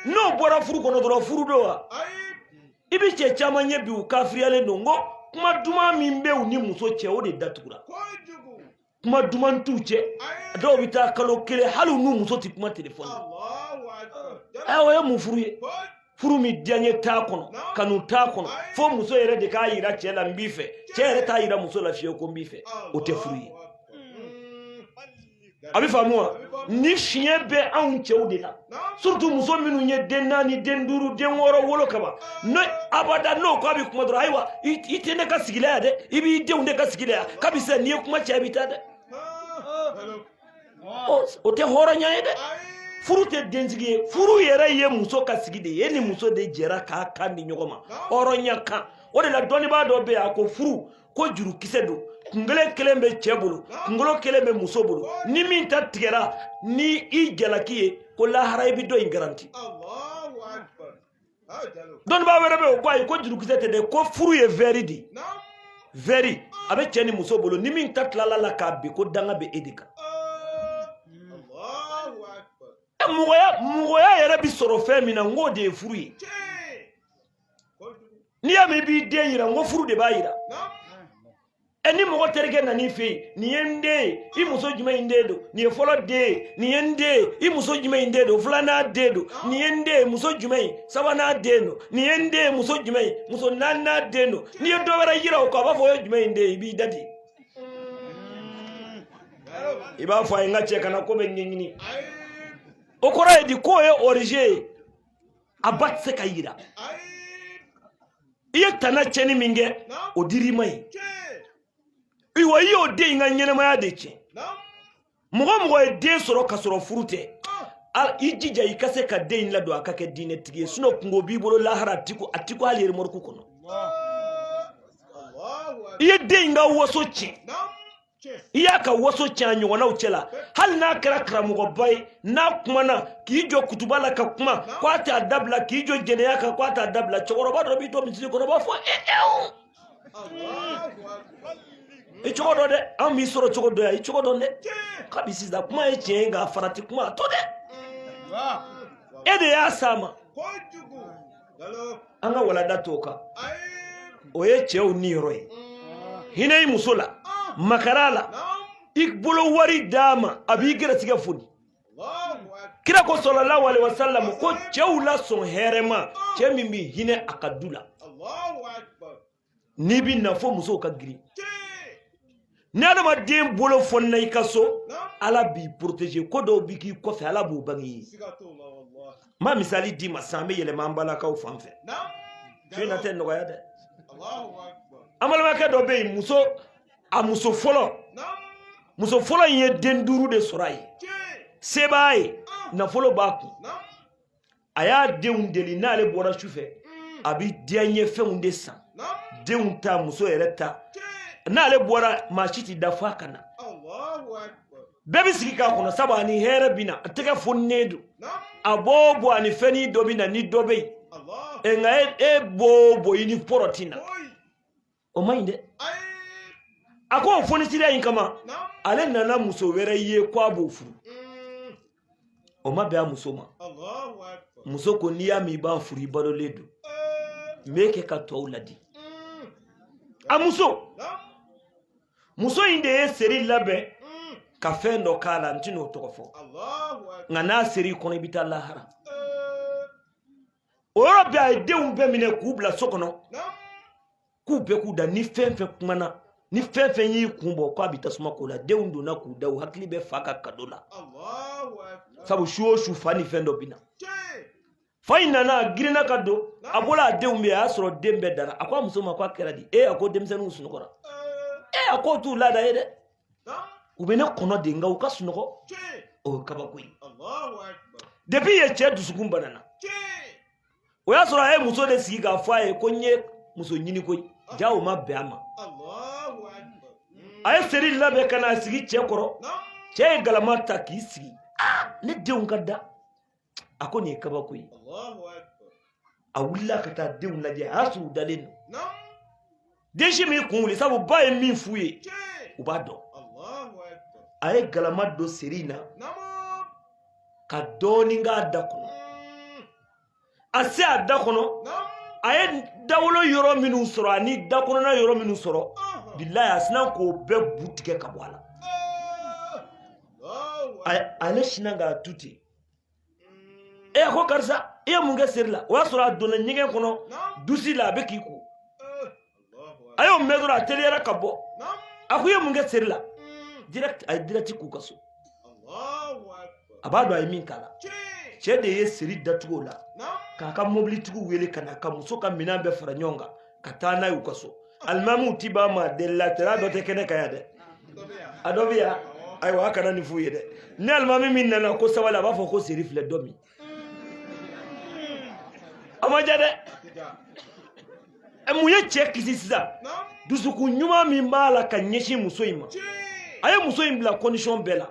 n'o bɔra furu kɔnɔ dɔrɔn furu don wa i bɛ cɛ caman ye bi u kafiriyalen don n ko kuma duman min bɛ u ni muso cɛ o de datugura kuma duman t'u cɛ dɔw bɛ taa kalo kelen hali u n'u muso tɛ kuma telefɔni na ɛ o ye mun furu ye furu min diyaɲe t'a kɔnɔ kanu t'a kɔnɔ fo muso yɛrɛ de k'a yira cɛ la n b'i fɛ cɛ yɛrɛ t'a yira muso la fiyewu ko n b'i fɛ o tɛ furu ye a bɛ faamu wa nin fiɲɛ bɛ anw cɛw de la surtout muso minnu ye den naani den duuru den wɔɔrɔ wolo kaban ne abada n'o ko a bɛ kuma dɔrɔn ayiwa i tɛ ne ka sigi la yan dɛ i b'i denw de ka sigi la yan kabi sisan n'i ye kuma caya i bɛ taa dɛ o tɛ hɔrɔnya ye dɛ furu tɛ densigi ye furu yɛrɛ ye muso ka sigi de ye ni muso de jɛra k'a kan di ɲɔgɔn ma hɔrɔnya kan o de la dɔnnibaa dɔ bɛ yen a ko furu ko jurukisɛ don kungolo kelen bɛ cɛ bolo kungolo kelen bɛ muso bolo ni min ta tigɛra ni i jalaki ye ko lahara i bɛ dɔ ye garanti dɔnnibaa wɛrɛ bɛ o ko ayi ko jurukisɛ tɛ dɛ ko furu ye vɛri de ye vɛri a bɛ cɛ ni muso bolo ni min ta tilal'a la ka bin ko danga bɛ e de kan mɔgɔya yɛrɛ bɛ sɔrɔ fɛn min na n k'o de ye furu ye n'i y'a mɛn i b'i den yira n ko furu de b'a yira ɛ ni mɔgɔ terikɛ nan'i fɛ yen nin ye n den ye i muso jumɛn in den don nin ye fɔlɔ den ye nin ye n den ye i muso jumɛn in den don filanan den don nin ye n den ye muso jumɛn in sabanan den don nin ye n den ye muso jumɛn in muso naaninan den don n'i ye dɔ wɛrɛ yira o kɔ a b'a fɔ o ye jumɛn in den ye i b'i da di i b'a fɔ a ye n ka cɛ kana ko bɛɛ ɲɛɲini o kɔrɔ ye di k'o ye orije ye a ba tɛ se ka yira i ye tana tiɲɛni min kɛ o dir'i ma ayiwa i y'o den in ka ɲɛnamaya de tiɲɛ mɔgɔ o mɔgɔ ye den sɔrɔ ka sɔrɔ furu tɛ i jija i ka se ka den in ladon a ka kɛ diinɛtigi ye sinɔ kunko b'i bolo lahara a ti ko hali remɔruku kɔnɔ i ye den in ka waso tiɲɛ i y'a ka waso cɛn a ɲɔgɔnnaw cɛla hali n'a kɛra karamɔgɔba ye n'a kumana k'i jɔ kutuba la ka kuma ko a t'a dabila k'i jɔ jɛnɛya kan ko a t'a dabila cɛkɔrɔba dɔ b'i to misiri kɔnɔ b'a fɔ e e o i cogo dɔn dɛ an b'i sɔrɔ cogo dɔ yan i cogo dɔn dɛ kabi sisan kuma ye tiɲɛ ye nka farati kuma to dɛ e de y'a s'a ma an ka walanda to kan o ye cɛw niyɔrɔ ye hinɛ i muso la makari a la i bolo wari d'a ma a b'i gɛrɛ tɛgɛ foni kira ko salalahu alayihi wasalam ko cɛw la sɔn hɛrɛma cɛ min bɛ hinɛ a ka du la n'i bɛ n'a fɔ musow ka girin ni adamaden bolo fonna i ka so ala b'i protege ko dɔw bɛ k'i kɔfɛ ala b'u bange i ye n b'a misali d'i ma san bɛ yɛlɛma an balakaw fan fɛ fiye na tɛ nɔgɔya dɛ an balimakɛ dɔ bɛ yen muso a muso fɔlɔ muso fɔlɔ in ye den duuru de sɔrɔ a ye se b'a ye nafolo b'a kun a y'a denw deli n'ale bɔra su fɛ mm. a bɛ diyanye fɛnw de san denw ta muso yɛrɛ ta n'ale bɔra maa si tɛ da f'a ka na bɛɛ bɛ sigi k'a kɔnɔ sabu a ni hɛrɛ bɛ na a tɛgɛ fonnen don a b'o bɔ a ni fɛnnin dɔ bɛ na ni dɔ bɛ yen nka e b'o bɔ i ni pɔrɔti na. o man ɲi dɛ a ko o fonisiriya in kama ale nana muso wɛrɛ ye ko a b'o furu o ma bɛn a muso ma muso ko n'i y'a mɛn i b'a furu i balolen don n b'e kɛ ka tɔw ladi a muso muso in de ye seri labɛn ka fɛn dɔ k'a la n tɛn'o tɔgɔ fɔ nka n'a ser'i kɔnɔ i bɛ taa lahara o yɔrɔ bɛɛ a ye denw bɛɛ minɛ k'u bila so kɔnɔ k'u bɛɛ k'u da ni fɛn fɛn kumana ni fɛn fɛn y'i kun bɔ k'a bɛ tasuma k'o la denw donna k'u da u hakili bɛ fa ka kado la sabu su o su fa ni fɛn dɔ bɛ na fa in nana a girinna ka don a bɔla a denw bɛ a y'a sɔrɔ den bɛɛ dara a ko a muso ma ko a kɛra di e a ko denmisɛnninw sunɔgɔra e a k'o t'u laada ye dɛ u bɛ ne kɔnɔ de nka u ka sunɔgɔ o ye kabako ye depuis yen cɛ dusukun banana o y'a sɔrɔ a ye muso de sigi k'a fɔ a ye ko n ye muso ɲini koyi jaa o ma bɛn a ma a ye seri labɛn ka n'a sigi cɛ kɔrɔ cɛ ye galama ta k'i sigi ne denw ka da a ko nin ye kabako ye a wulila ka taa denw lajɛ a y'a sɔrɔ u dalen don den si m'i kun wuli sabu ba ye min f'u ye u b'a dɔn a ye galama don seri in na ka dɔɔnin k'a da kɔnɔ mm. a se a da kɔnɔ a ye dawolo yɔrɔ minnu sɔrɔ ani da kɔnɔna yɔrɔ minnu sɔrɔ uh-huh. bilayi a sinna k'o bɛɛ bu tigɛ ka bɔ a la uh-huh. ale sinna k'a tu ten a ko karisa i ye mun kɛ seri la o y'a sɔrɔ a donna ɲɛgɛn kɔnɔ dusi la a bɛ k'i ko a y'o mɛn dɔrɔn a teliyara ka bɔ a ko i ye mun kɛ seri la direct a ye direct k'u ka so a b'a dɔn a ye min k'a la cɛ de ye seri datugu o la k'a ka mobilitigiw wele ka na ka muso ka minɛn bɛɛ fara ɲɔgɔn kan ka taa n'a ye u ka so alimamiw ti ba ma deli la tɛra dɔ tɛ kɛnɛ kan yan dɛ a dɔ bɛ yan ayiwa a kana nin f'u ye dɛ ni alimami min nana ko sabali a b'a fɔ ko seri filɛ dɔ min a ma ja dɛ mun ye cɛ kisi sisan dusukun ɲuman min b'a la ka ɲɛsin muso in ma a ye muso in bila condition bɛɛ la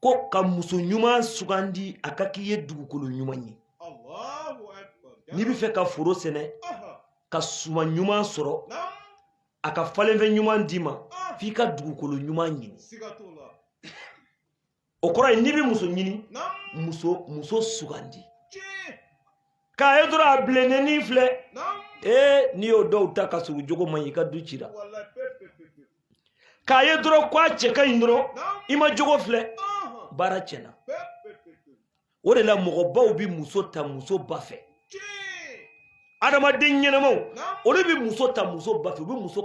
ko ka muso ɲuman sugandi a ka k'i ye dugukolo ɲuman ye n'i bɛ fɛ ka foro sɛnɛ ka suman ɲuman sɔrɔ a ka falenfɛn ɲuman d'i ma f'i ka dugukolo ɲuman ɲini o kɔrɔ ye n'i bɛ muso ɲini muso muso sugandi k'a ye dɔrɔn a bilennenin filɛ ee n'i y'o dɔw ta ka sɔrɔ jogo man ɲi i ka du cira k'a ye dɔrɔn ko a cɛ ka ɲi dɔrɔn i ma jogo filɛ baara tiɲɛna o de la mɔgɔbaw bɛ muso ta muso ba fɛ adamaden ɲɛnamaw olu bɛ muso ta muso ba fɛ u bɛ muso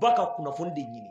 ba ka kunnafoni de ɲini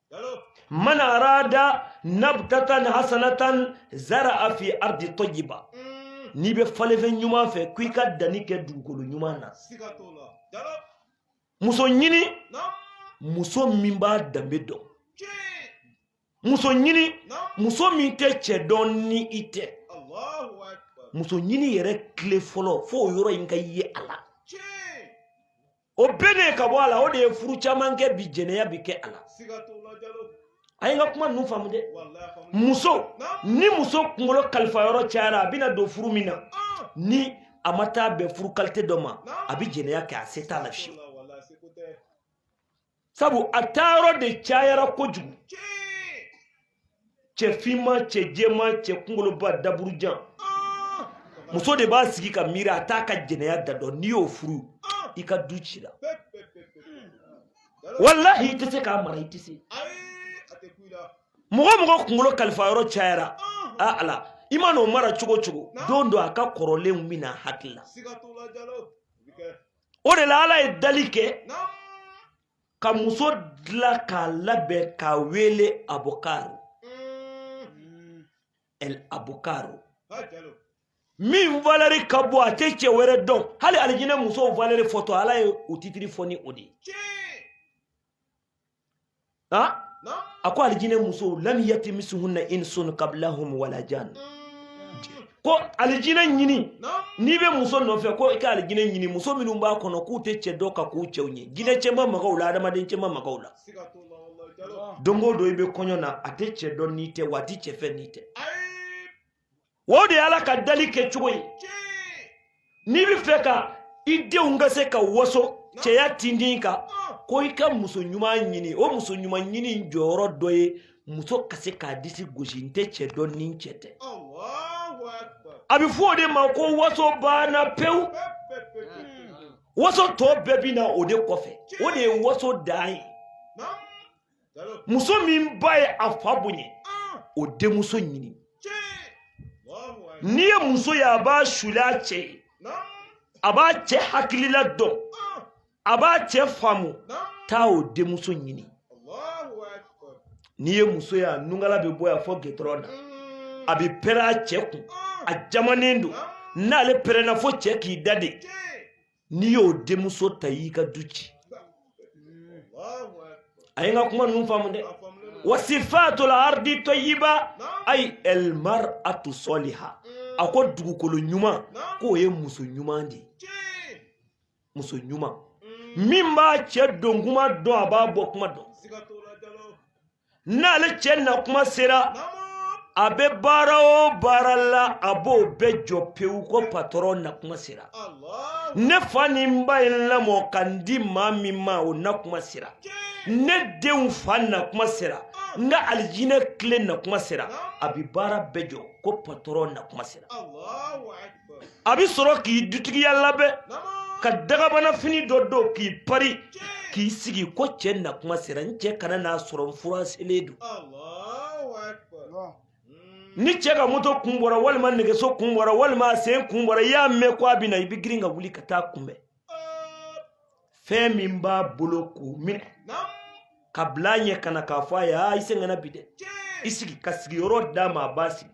man arada nabtatan hasanatan zara'a fi ardi tayyiba n'i bɛ falenfɛn ɲuman fɛ ko i ka danni kɛ dugukolo ɲuman na muso ɲini muso min b'a danbe dɔn muso ɲini muso min tɛ cɛ dɔn ni i tɛ muso ɲini yɛrɛ tile fɔlɔ fo o yɔrɔ in ka ye a la o bɛɛ de ka bɔ a la o de ye furu caman kɛ bi jɛnɛya bi kɛ a la a ye n ka kuma ninnu faamu dɛ muso ni muso kunkolo kalifa yɔrɔ cayara a bɛna don furu min na ah! ni a ma taa bɛn furu kalite dɔ ma a bɛ jɛnɛya kɛ a se t'a la fiyewu sabu a taayɔrɔ de cayara kojugu cɛ finman cɛ jɛman cɛ kungoloba daburujan muso de b'a sigi ka miiri a t'a ka jɛnɛya da dɔn n'i y'o furu i ka du cira walahi i tɛ se k'a mara i tɛ se mɔgɔ o mɔgɔ kungolo kalifa yɔrɔ cayara a ala i mana o mara cogo o cogo don dɔ a ka kɔrɔlenw bɛ na a hakili la o de la ala ye dali kɛ ka muso dila k'a labɛn k'a wele abokaro el abokaro min valɛri ka bon a tɛ cɛ wɛrɛ dɔn hali alijinɛ musow valɛri fɔtɔ ala ye u titiri fɔ ni o de ye ha a ko alijinɛ musow lam yatimisuhunna insun qablahum wala jan mm. ko alijinɛ ɲini n'i bɛ muso nɔfɛ ko i ka alijinɛ ɲini muso minnu b'a kɔnɔ k'u tɛ cɛ dɔn ka k'u cɛw ɲɛ jinɛ cɛ ma maga u la adamaden cɛ ma maga u la don o don i bɛ kɔɲɔ na a tɛ cɛ dɔn n'i tɛ wa a tɛ cɛ fɛ n'i tɛ o de ye ala ka dali kɛ cogo ye n'i bɛ fɛ ka i denw ka se ka waso cɛya tindin kan ko i ka muso ɲuman ɲini o muso ɲuman ɲini jɔyɔrɔ dɔ ye muso ka se k'a disi gosi n tɛ cɛ dɔn ni n cɛ tɛ a bɛ fɔ o de ma ko waso banna pewu waso tɔ bɛɛ bɛ na o de kɔfɛ o de ye waso dan ye muso min ba ye a fa bonya o denmuso ɲini n'i ye muso ye a b'a suuli a cɛ ye a b'a cɛ hakilila dɔn a b'a cɛ faamu taa o denmuso ɲini n'i ye muso ye a nungala bɛ bɔ yan fo gitɔrɔn na a bɛ pɛrɛn a cɛ kun a jamanen don n'ale pɛrɛnna fo cɛ k'i dade n'i y'o denmuso ta y'i ka du ci a ye n ka kuma ninnu faamu dɛ wasifatul ardi tɔyiba ayi elmaratu sɔliha a ko dugukolo ɲuman k'o ye muso ɲuman de ye muso ɲuman min b'a cɛ don kuma dɔn a b'a bɔ kuma dɔn n'ale cɛ na kuma sera a bɛ baara o baara la a b'o bɛɛ jɔ pewu ko patɔrɔn na kuma sera ne fa ni n ba ye n lamɔ ka n di maa min ma o na kuma sera ne denw fa na kuma sera n ka alijinɛ kile na kuma sera a bɛ baara bɛɛ jɔ ko patɔrɔn na kuma sera a bɛ sɔrɔ k'i dutigiya labɛn ka dagabana fini dɔ don k'i pari k'i sigi ko cɛ na kuma sera n cɛ kana n'a sɔrɔ n fura selen don ni cɛ ka moto kun bɔra walima nɛgɛso kun bɔra walima a sen kun bɔra i y'a mɛn ko a bɛ na i bɛ girin ka wuli ka taa a kunbɛn fɛn min b'a bolo k'o minɛ ka bila a ɲɛ ka na k'a fɔ a ye aa i sɛgɛnna bi dɛ i sigi ka sigiyɔrɔ d'a ma a b'a sigi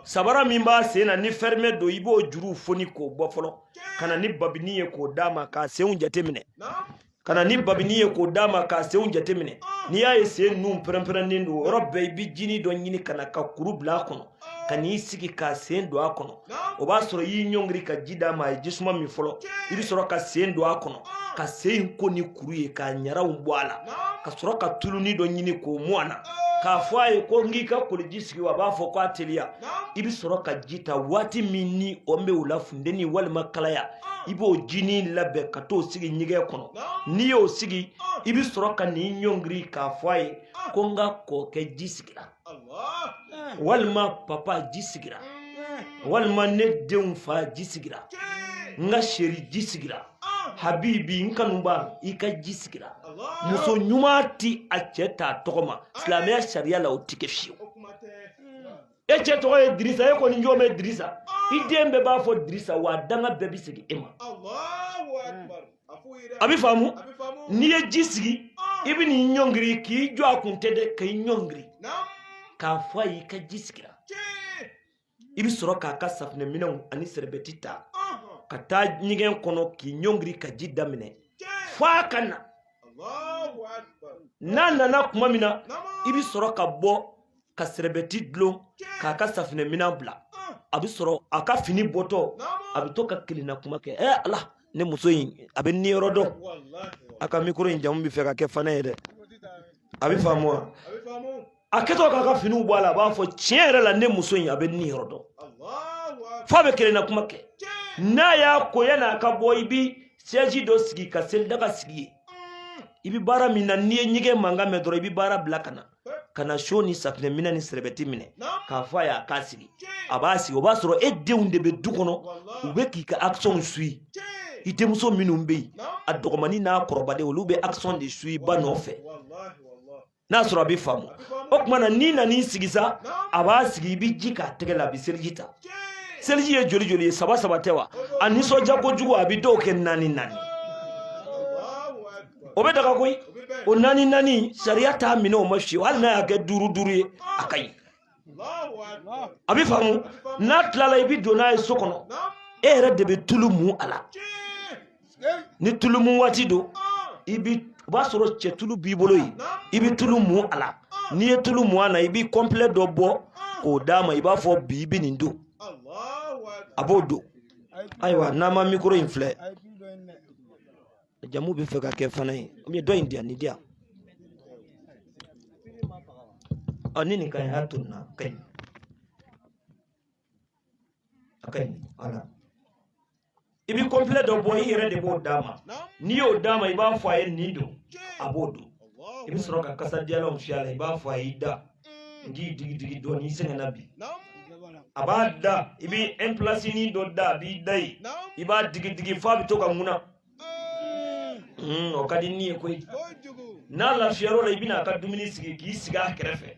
sabara min b'a sen na ni fɛrimɛ don i b'o juruw foni k'o bɔ fɔlɔ ka na ni babini ye k'o d'a ma k'a senw jateminɛ ka na ni babini ye k'o d'a ma k'a senw jateminɛ n'i y'a ye sen nun pɛrɛnpɛrɛnnen don yɔrɔ bɛɛ i bɛ jini dɔ ɲini ka na ka kuru bila a kɔnɔ ka n'i sigi ka sen don a kɔnɔ o b'a sɔrɔ i y'i ɲɔngiri ka ji d'a ma a ye jisuma min fɔlɔ i bɛ sɔrɔ ka sen don a kɔnɔ ka sen in ko ni kuru ye k'a ɲaraw bɔ a la ka sɔrɔ ka tuluni dɔ ɲini k'o mu a na k'a fɔ a ye ko n k'i ka koliji sigi wa a b'a fɔ ko a teliya i bɛ sɔrɔ ka ji ta waati min ni an bɛ o la funteni walima kalaya i b'o jinin labɛn ka t'o sigi ɲɛgɛn kɔnɔ n'i y'o sigi i bɛ sɔrɔ ka n'i ɲɔngiri k'a fɔ a ye ko n ka kɔkɛ ji sigira walima papa ji sigira walima ne denw fa ji sigira n ka chéri ji sigira habibi n kanuba i ka ji sigira muso ɲuman ti a cɛ t'a tɔgɔ ma silamɛya sariya la o ti kɛ fiyewu e cɛ tɔgɔ ye dirisa e kɔni jɔn bɛ dirisa i den bɛɛ b'a fɔ dirisa wa a danga bɛɛ bɛ segin e ma a bɛ faamu n'i ye ji sigi i bɛ n'i ɲɔngiri k'i jɔ a kun tɛ dɛ ka i ɲɔngiri k'a fɔ a y'i ka ji sigira i bɛ sɔrɔ k'a ka safinɛminɛnw ani sɛrɛbɛti ta ka taa ɲɛgɛn kɔnɔ k'i ɲɔngiri ka ji daminɛ fo a ka na n'a nana tuma min na i bɛ sɔrɔ ka bɔ ka sɛrɛbɛti dulon k'a ka safinɛminan bila a bɛ sɔrɔ a ka fini bɔtɔ a bɛ to ka kelenna kuma kɛ ɛ ala ne muso in a bɛ ni yɔrɔ dɔn a ka mikoro in jamu bɛ fɛ ka kɛ fanɛ ye dɛ a bɛ faamu wa a kɛtɔ k'a ka finiw bɔ a la a b'a fɔ tiɲɛ yɛrɛ la ne muso in a bɛ ni yɔrɔ dɔn f'a bɛ kelenna kuma kɛ n'a y'a ko yan'a ka bɔ i bɛ sɛzi dɔ sigi ka selidaga sigi yen i bɛ baara min na n'i ye ɲɛgɛn mankan mɛn dɔrɔn i bɛ baara bila ka na ka na siyo ni safinɛminɛn ni sɛrɛbɛti minɛ k'a fɔ a y'a k'a sigi a b'a sigi o b'a sɔrɔ e denw de bɛ du kɔnɔ u bɛ k'i ka action suit i denmuso minnu bɛ yen a dɔgɔmani n'a kɔrɔbalen olu bɛ action de suit ba nɔfɛ n'a sɔrɔ a bɛ faamu o tuma na n'i nan'i sigi sa a b'a sigi i bɛ ji k'a tɛgɛ la a bɛ seliji ta seliji ye joli joli ye saba saba tɛ wa a nisɔndiya kojugu a bɛ dɔw kɛ naani naani o bɛ daga koyi o naani naani sariya t'a minɛ o ma fewu hali n'a y'a kɛ duuru duuru ye a ka ɲi a bɛ faamu n'a tilala i bɛ don n'a ye so kɔnɔ e yɛrɛ de bɛ tulu mun a la ni tulu mun waati don i bɛ o b'a sɔrɔ cɛ tulu b'i bolo yen i bɛ tulu mun a la n'i ye tulu mun a la i bɛ kɔnpilɛ dɔ bɔ k'o d'a ma i b'a fɔ bi i bɛ nin don a b'o don ayiwa n'an ma mikoro in filɛ jamu bɛ fɛ ka kɛ fana ye u ye dɔ in di yan nin di yan ɔ ni nin ka ɲi a tonna a ka ɲi a ka ɲi ala i bɛ kɔnpilɛ dɔ bɔ i yɛrɛ de b'o d'a ma n'i y'o d'a ma i b'a fɔ a ye nin don a b'o don i bɛ sɔrɔ ka kasadiyalanw fiyɛ a la i b'a fɔ a y'i da n k'i digi digi dɔɔnin i sɛgɛnna bi a b'a da i bɛ ɛnpilasinin dɔ da a b'i da yen i b'a digi digi f'a bɛ to ka ŋuna Mm, o ka di ni ye koyi n'a lafiyar'o la i bɛna a ka dumuni sigi k'i sigi a kɛrɛfɛ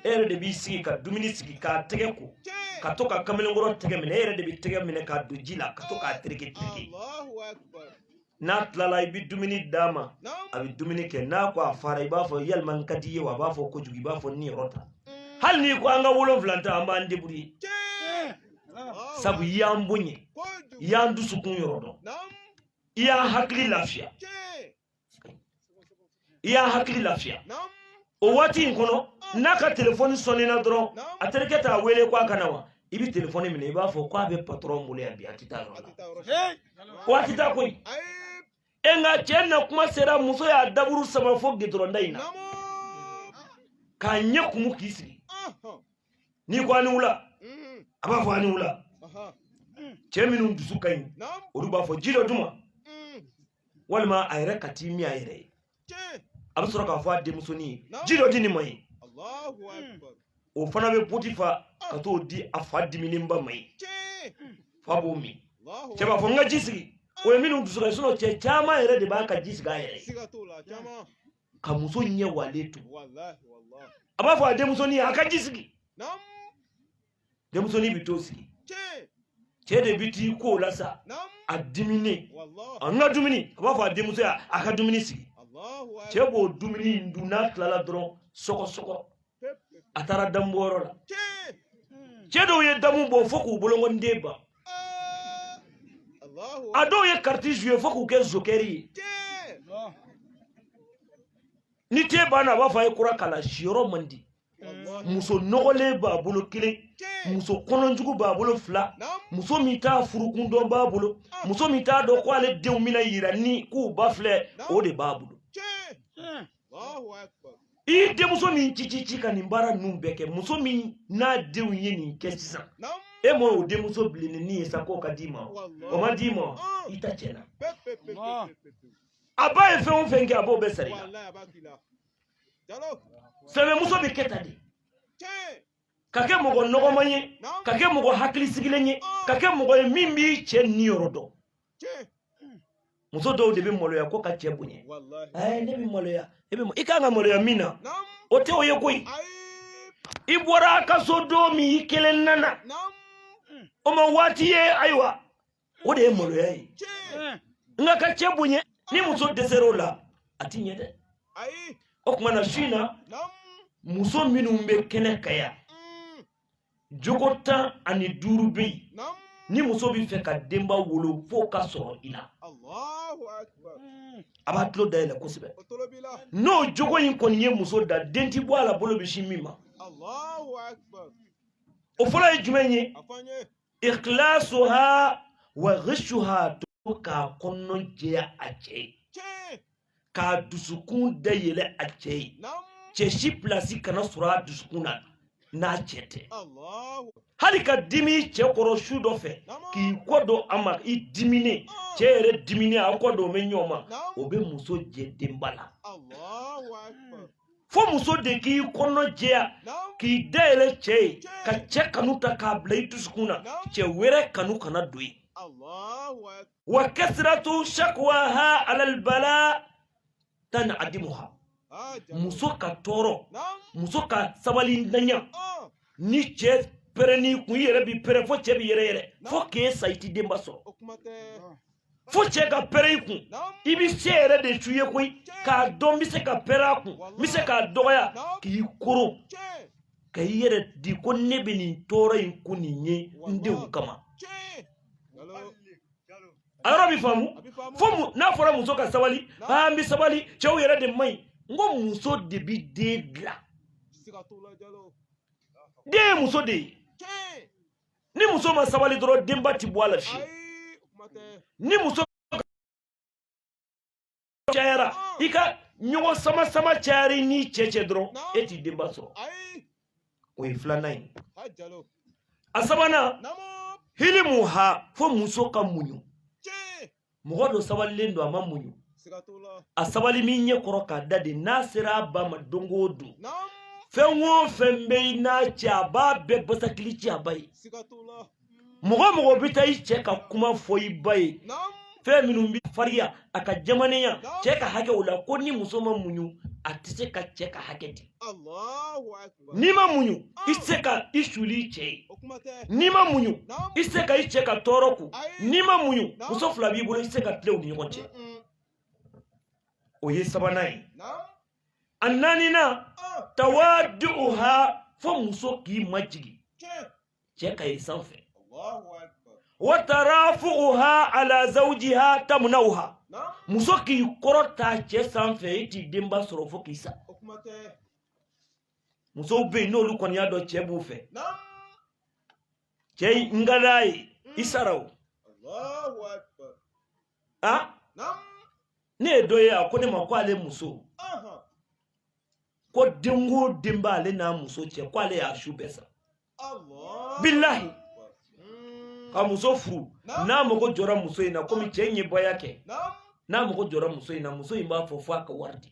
e yɛrɛ de b'i sigi ka dumuni sigi k'a tɛgɛ ko ka to ka kamalenkɔrɔ tɛgɛ minɛ e yɛrɛ de bɛ tɛgɛ minɛ k'a don ji la ka to k'a tereke tereke n'a tilala i bɛ dumuni d'a ma a bɛ dumuni kɛ n'a ko a fara i b'a fɔ yalima n ka di i ye wa a b'a fɔ kojugu i b'a fɔ ni yɔrɔ ta mm. hali n'i ko an ka wolonwula ta an b'an débrouiller sabu i y'an boɲɛ i y'an dusukun yɔrɔ dɔn i y'an hakili lafiya i y'an hakili lafiya o waati in kɔnɔ n'a ka telefɔni sɔnnina dɔrɔn a terikɛ t'a wele ko a ka na wa i bɛ telefɔni minɛ i b'a fɔ ko a bɛ patɔrɔn bolo yan bi a tɛ taa yɔrɔ la ko a tɛ taa koyi e nka cɛ na kuma sera muso y'a daburu sama fo gidɔrɔnda in na k'a ɲɛ kumu k'i sigi n'i ko a ni wula a b'a fɔ a ni wula cɛ minnu dusu ka ɲi olu b'a fɔ ji dɔ d'u ma walima a yɛrɛ ka t'i min a yɛrɛ ye a bɛ sɔrɔ k'a fɔ a denmusonin ye ji dɔ di nin ma ye o fana bɛ poti fa ka t'o di a fa diminenba ma ye fa b'o min cɛ b'a fɔ n ka ji sigi o ye minnu dusu ka ɲi cɛ caman yɛrɛ de b'a ka ji sigi a yɛrɛ ka muso ɲɛ walen to a b'a fɔ a denmusonin a ka ji sigi denmusonin bɛ t'o sigi cɛ de bɛ t'i ko o la sa a diminen a n ka dumuni a b'a fɔ a denmuso ye a ka dumuni sigi cɛ b'o dumuni in dun n'a tilala dɔrɔn sɔgɔsɔgɔ a taara damubɔyɔrɔ la cɛ dɔw ye damu bɔ fo k'u bolonkɔniden ban a dɔw ye kariti zuye fo k'u kɛ zokɛri ye ni te banna a b'a fɔ a ye kura k'a la siyɔrɔ man di muso nɔgɔlen b'a bolo kelen muso kɔnɔjugu b'a bolo fila muso min t'a furukun dɔn b'a bolo muso min t'a dɔn ko ale denw bɛna yira ni k'u ba filɛ o de b'a bolo i denmuso min ci ci ci ka nin baara ninnu bɛɛ kɛ muso min n'a denw ye nin kɛ sisan e m'o o denmuso bilennin ye sa k'o ka d'i ma o ma d'i ma i ta cɛ la a ba ye fɛn o fɛn kɛ a b'o bɛɛ sara i la sɛbɛmuso bɛ kɛ tan de ka kɛ mɔgɔ nɔgɔman ye ka kɛ mɔgɔ hakili sigilen ye ka kɛ mɔgɔ ye min b'i cɛ niyɔrɔ dɔn muso dɔw de bɛ maloya ko ka cɛ bonya ɛɛ ne bɛ maloya e bɛ i kan ka maloya min na o tɛ o ye koyi i bɔra a ka so don min i kelen nana o ma waati ye ayiwa o de ye maloya ye nka ka cɛ bonya ni muso dɛsɛr'o la a ti ɲɛ dɛ o tuma na su in na muso minnu bɛ kɛnɛ kan yan jogo tan ani duuru bɛ yen ni muso bɛ fɛ ka denba wolo f'o ka sɔrɔ i la a b'a tulo dayɛlɛ kosɛbɛ n'o jogo in kɔni ye muso da den ti bɔ a la bolo bɛ sin min ma o fɔlɔ ye jumɛn ye ikhlasuha wa ghishuha to k'a kɔnɔ jɛya a cɛ ye k'a dusukun dayɛlɛ a cɛ ye cɛ si pilasi kana sɔrɔ a dusukun na n'a cɛ tɛ hali ka dimi cɛ kɔrɔ su dɔ fɛ k'i kɔ don a ma i diminen cɛ yɛrɛ diminen a kɔ don bɛ ɲɔgɔn ma o bɛ muso jɛ denba la fo muso de k'i kɔnɔ jɛya k'i dayɛlɛ cɛ ye ka cɛ kanu ta k'a bila i dusukun na cɛ wɛrɛ kanu kana don ye wa kasratu shakwaha alalbala tanadimuha muso ka tɔɔrɔ muso ka sabalintanya ah. ni cɛ pɛrɛnn'i kun i yɛrɛ bi pɛrɛn fo cɛ bi yɛrɛ yɛrɛ fo k'e sa i ti denba sɔrɔ fo cɛ ka pɛrɛn i kun i bɛ se yɛrɛ de su ye koyi k'a dɔn n bɛ se ka pɛrɛn a kun n bɛ se k'a dɔgɔya k'i koron ka i yɛrɛ di ko ne bɛ nin tɔɔrɔ in kun nin ye n denw kama a yɔrɔ bɛ faamu fo n'a fɔra muso ka sabali an bɛ sabali cɛw yɛrɛ de man ɲi n ko muso de bɛ den dilan den ye muso de ye ni muso ma sabali dɔrɔn denba ti bɔ a la fiyewu ni muso cayara i ka ɲɔgɔn sama sama cayar'i n'i cɛ cɛ dɔrɔn e ti denba sɔrɔ o ye filanan ye a sabanan hilimu ha fo muso ka muɲu mɔgɔ dɔ sabalilen don a ma muɲu a sabali min ɲɛ kɔrɔ k'a da de n'a sera a ba ma don o don fɛn o fɛn bɛ i n'a cɛ a b'a bɛɛ basakili ci a ba ye mɔgɔ o mɔgɔ bɛ taa i cɛ ka kuma fɔ i ba ye fɛn minnu bɛ fariya a ka jamanenya cɛ ka hakɛ o la ko ni muso ma muɲu a tɛ se ka cɛ ka hakɛ di n'i ma muɲu i tɛ se ka i suli i cɛ ye n'i ma muɲu i tɛ se ka i cɛ ka tɔɔrɔ kun n'i ma muɲu muso fila b'i bolo i tɛ se ka tilen u ni ɲɔgɔn cɛ o ye sabanan ye a naaninan tawaduha fo muso k'i majigin cɛ ka yɛlɛn sanfɛ wa tarafuha ala zawjiha tamnauha muso k'i kɔrɔta cɛ sanfɛ i t'i denba sɔrɔ fo k'i sa musow bɛ yen n'olu kɔni y'a dɔn cɛ b'u fɛ cɛ n ka d'a ye i mm. sara o a ne ye dɔ ye a ko ne ma ko ale muso ko den o den b'ale n'a muso cɛ ko ale y'a su bɛɛ san bilahi ka muso furu n'a mago jɔra muso in na komi cɛ in ye bɔya kɛ n'a mago jɔra muso in na muso in b'a fɔ fo a ka wari di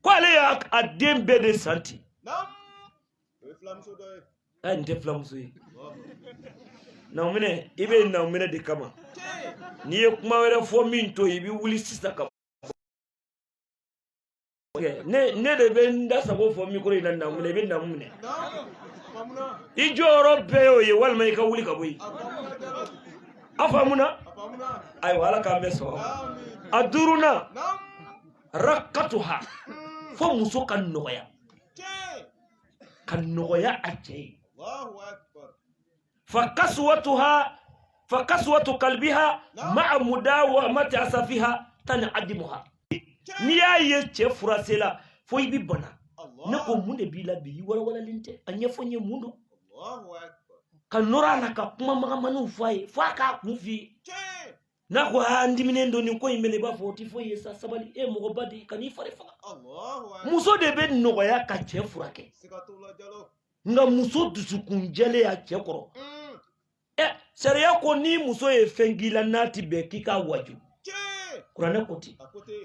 ko ale y'a a den bɛɛ de san ten ɛ nin tɛ furumuso ye naminɛ i bɛ naminɛ de kama n'i ye kuma wɛrɛ fɔ min to i bɛ wuli sisan ka ne ne de bɛ n da sago fɔ mikoro in na naminɛ i bɛ naminɛ i jɔyɔrɔ bɛɛ y'o ye walima i ka wuli ka bɔ yen a faamuna ayiwa ala k'an bɛɛ sɔrɔ a duurunan rakatuha fo muso ka nɔgɔya ka nɔgɔya a cɛ ye fa kaswatuha fa kaswatu qalbiha ma'a mudawamati asafiha tan adimuha n'i y'a ye cɛ furasela fo i bi bana ne ko mun de b'i la bi i walawalalen tɛ a ɲɛfɔ n ye mun don ka nɔrɔ a la ka kuma magamaniw fɔ a ye fo a k'a kun f'i ye n'a ko aa n diminen don nin ko in bɛ ne i b'a fɔ o tɛ foyi ye sa sabali e mɔgɔba de kan'i fari faga muso de bɛ nɔgɔya ka cɛ furakɛ nka muso dusukun jalen y'a cɛ kɔrɔ mm. ɛ sariya ko ni muso ye fɛn k'i la n'a ti bɛn k'i k'a waju kuranɛ ko ten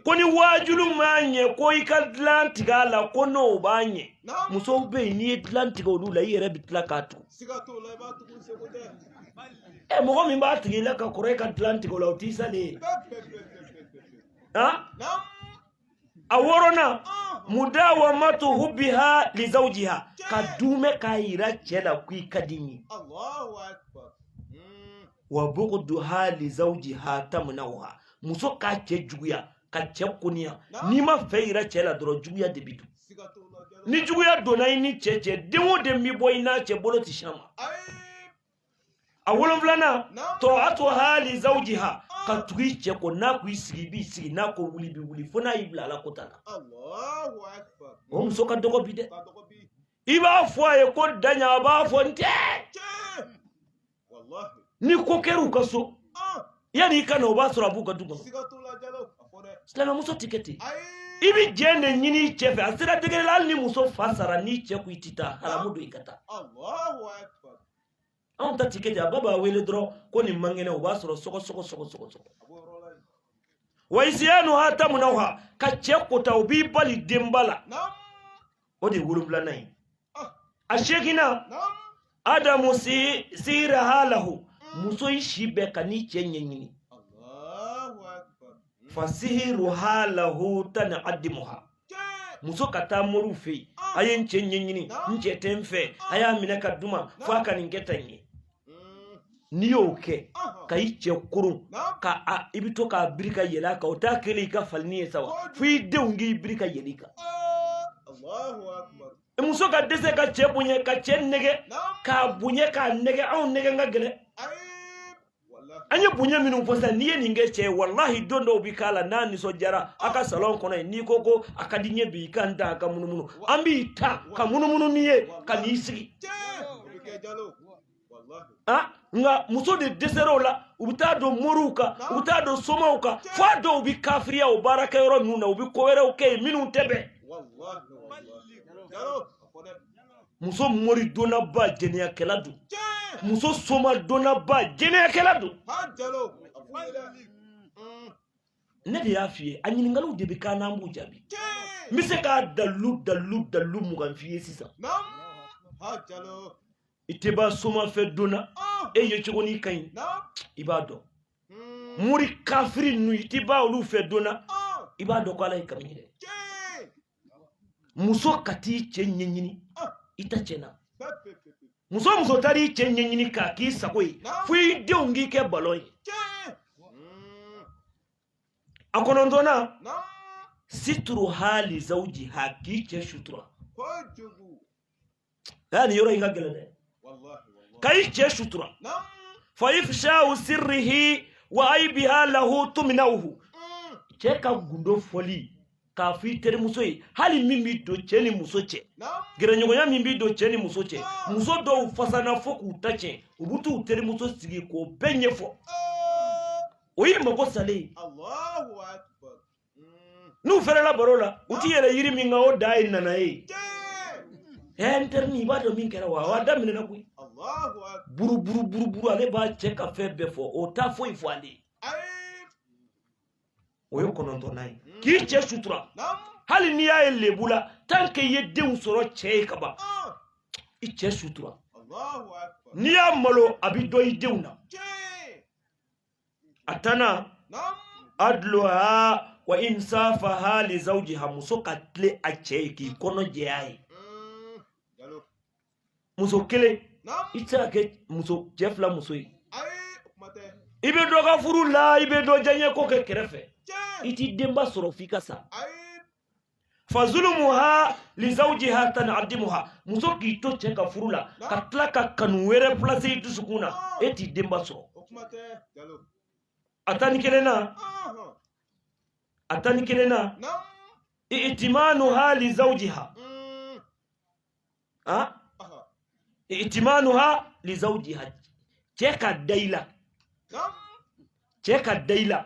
ko ni waajuli m'a ɲɛ ko i ka dilan tigɛ a la ko n'o b'a ɲɛ musow bɛ yen n'i ye dilan tigɛ olu la i yɛrɛ bɛ tila k'a tugu ɛ mɔgɔ min b'a tigɛ i la ka kɔrɔ i ka dilan tigɛ o la o t'i salen ye a wɔɔrɔnan mudawamatu hubbiha li zawjiha ka duumɛ k'a yira cɛ la k'i ka di n ye wa bughduha li zawjiha tamnawha muso ka cɛ juguya ka cɛ koniya n'i ma fɛ yira cɛ la dɔrɔn juguya de bi don ni juguya donna i ni cɛ cɛ den o den bɛ bɔ i n'a cɛ bolo ti s'a ma a wolonfilanan ta'atuha li zawjiha ka tugu i cɛ kɔ n'a ko i sigi i b'i sigi n'a ko wuli i bɛ wuli fo n'a y'i bila ala kota la o muso ka dɔgɔ bi dɛ i b'a fɔ a ye ko da yan a b'a fɔ n tɛ ni ko kɛra u ka so yanni i ka na o b'a sɔrɔ a b'u ka du kɔnɔ silamɛmuso tɛ kɛ ten i bɛ jɛn de ɲini i cɛ fɛ a sera degere la hali ni muso fa sara n'i cɛ ko i tɛ taa haramu don i ka taa anw ta tɛ kɛ ten a ba b'a wele dɔrɔn ko nin man kɛnɛ o b'a sɔrɔ sɔgɔsɔgɔ wa isiyanuha tamnawha ka cɛ kota o b'i bali denba la o de ye wolonwulanan ye a seeginnan adamu sihiriha lahu muso i si bɛɛ kan'i cɛ ɲɛɲini fasihiruha lahu tanadimuha muso ka taa moriw fɛ yen a ye n cɛ ɲɛɲini n cɛ tɛ n fɛ a y'a minɛ ka di n ma fo a ka nin kɛ tan ye n'i y'o kɛ ka i cɛ koron ka i bɛ to k'a biri ka yɛlɛ a kan o t'a kɛlen i ka falinin ye sa wa fo i denw k'i biri ka yɛlɛ i kan muso ka dɛsɛ ka cɛ bonya ka cɛ nɛgɛn k'a bonya k'a nɛgɛn anw nɛgɛn ka gɛlɛn an ye bonya minnu fɔ sisan n'i ye nin kɛ cɛ ye walahi don dɔw bɛ k'a la n'a nisɔndiyara a ka salɔn kɔnɔ yen n'i ko ko a ka di n ye bi i ka n ta a ka munumunu an b'i ta ka munumunu n'i ye ka n'i sigi ah, nka muso de dɛsɛra o la u bɛ taa don moriw kan u bɛ taa don somaw kan fo a dɔw bɛ kafiriya o baarakɛyɔrɔ ninnu na u bɛ ko wɛrɛw kɛ yen minnu tɛ bɛn muso mori donnaba jɛnɛyakɛla don muso soma donnaba jɛnɛyakɛla don ne de y'a f'i ye a ɲininkaliw de bɛ k'an n'an b'u jaabi n bɛ se k'a dalilu dalilu dalilu mugan f'i ye sisan i tɛ b'a soma fɛ donna ah. e ye cogo n'i ka ɲi i b'a dɔn hmm. mori kafiri ninnu i tɛ b'a olu fɛ donna ah. i b'a dɔn ko ala ye kami ye dɛ muso ka t'i cɛ ɲɛɲini i ta cɛnna muso muso taara i cɛ ɲɛɲini k'a k'i sago ye fo i denw k'i kɛ balon ye a kɔnɔntɔnnan situruha li zawjiha k'i cɛ sutura aa nin yɔrɔ in ka gɛlɛn dɛ ka i cɛ sutura fa ifshahu sirrihi wa aibiha lahu tuminawhu cɛ ka gundo fɔli k'a fɔ i terimuso ye hali min b'i don cɛ ni muso cɛ gɛrɛɲɔgɔnya min b'i don cɛ ni muso cɛ muso dɔw fasana fo k'u ta tiɲɛ u bɛ t'u terimuso sigi k'o bɛɛ ɲɛfɔ o y'i mago salen ye n'u fɛrɛla baro la u ti yɛlɛ yiri min kan o da ye nana ye ɛɛ n terinin i b'a dɔn min kɛra wa a daminɛna koyi buruburuburuburu ale b'a cɛ ka fɛn bɛɛ fɔ o t'a foyi fɔ ale ye o ye kɔnɔntɔnnan ye hmm. k'i cɛ sutura hali n'i y'a ye lebu la tant que i ye denw sɔrɔ cɛ ye ka ban ah. i cɛ sutura n'i y'a malo a bɛ don i denw na a tannan adluha wa insafaha li zawjiha muso ka tilen a cɛ ye k'i kɔnɔ jɛya ye muso kelen i tɛ se ka kɛ muso cɛ fila muso ye i bɛ dɔ ka furu la i bɛ dɔ diyaɲɛ ko kɛ kɛrɛfɛ i t'i denba sɔrɔ f'i ka sa fa zulumuha li zawjiha tanadimuha muso k'i to cɛ ka furu la ka tila ka kanu wɛrɛ place i dusukun na e t'i denba sɔrɔ a tan ni kelennan a tan ni kelennan itimanuha li zawjiha ah itimanuha li zawjiha cɛ ka da i la cɛ ka da i la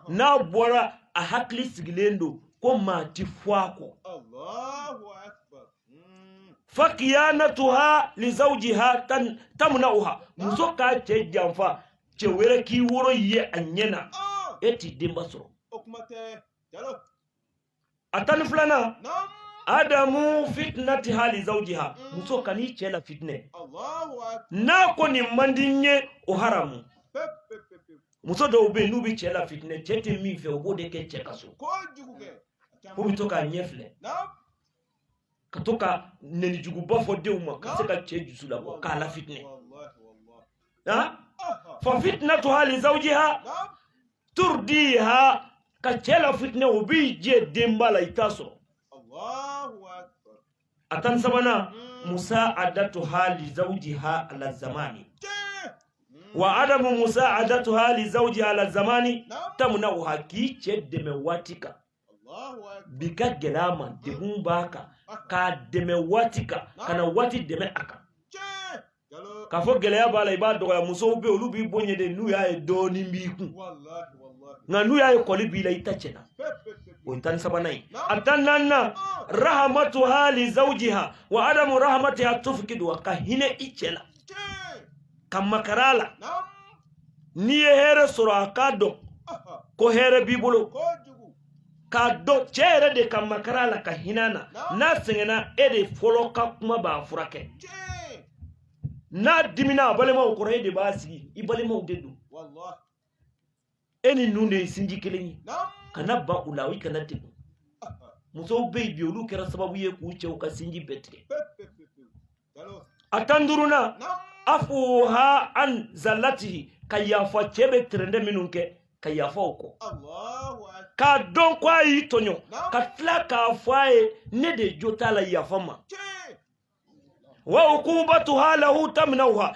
n'a bɔra a hakili sigilen don ko maa ti fɔ a kɔ fakiyanatuha li zawjiha tan tamnauha muso k'a cɛ janfa cɛ wɛrɛ k'i woro ye a ɲɛ na e t'i denba sɔrɔ a tan ni filanan adamu fitinatiha li zawjiha muso kan'i cɛ lafitinɛ n'a ko nin man di n ye o haramu muso dɔw bɛ yen n'u bɛ cɛ lafitinɛ cɛ tɛ min fɛ o b'o de kɛ cɛ ka so k'o bɛ to k'a ɲɛ filɛ ka to ka nɛnijuguba fɔ denw ma ka se ka cɛ dusu labɔ k'a lafitinɛ fa fitinatuha li zawjiha turdiha ka cɛ lafitinɛ o b'i jɛ denba la i t'a sɔrɔ a tan sabanan hmm. musaadatuha li zawjiha ala zamani wa adamu musaadatuha li zawjiha ala zamani tamnauha k'i cɛ dɛmɛ waati kan bi ka gɛlɛn a ma degun b'a kan k'a dɛmɛ waati kan kana waati dɛmɛ a kan k'a fɔ gɛlɛya b'a la i b'a dɔgɔya musow bɛ olu b'i bonya de n'u y'a ye dɔɔnin b'i kun nka n'u y'a ye kɔli b'i la i ta cɛnna o ye tan sabanan ye a tan naaninan rahamatuha li zawjiha wa adamu rahamatiha tufikiduha ka hinɛ i cɛ la ka makara a la n'i ye hɛrɛ sɔrɔ a k'a dɔn ko hɛrɛ b'i bolo k'a dɔn cɛ yɛrɛ de ka makara a la ka hinɛ a na n'a sɛgɛnna e de fɔlɔ ka kuma b'a furakɛ n'a dimina a balimaw kɔrɔ e de b'a sigi i balimaw de don e ni ninnu de ye sinji kelen ye kana ban u la i kana degun musow bɛ yen bi olu kɛra sababu ye k'u cɛw ka sinji bɛɛ tigɛ a tan duurunan afuha an zalatihi ka yafa cɛ bɛ tɛrɛndɛ minnu kɛ ka yafa o kɔ k'a dɔn ko a y'i tɔɲɔ ka tila k'a fɔ a ye ne de jo t'a la yafa n ma wa ukubatuha lahu taminawha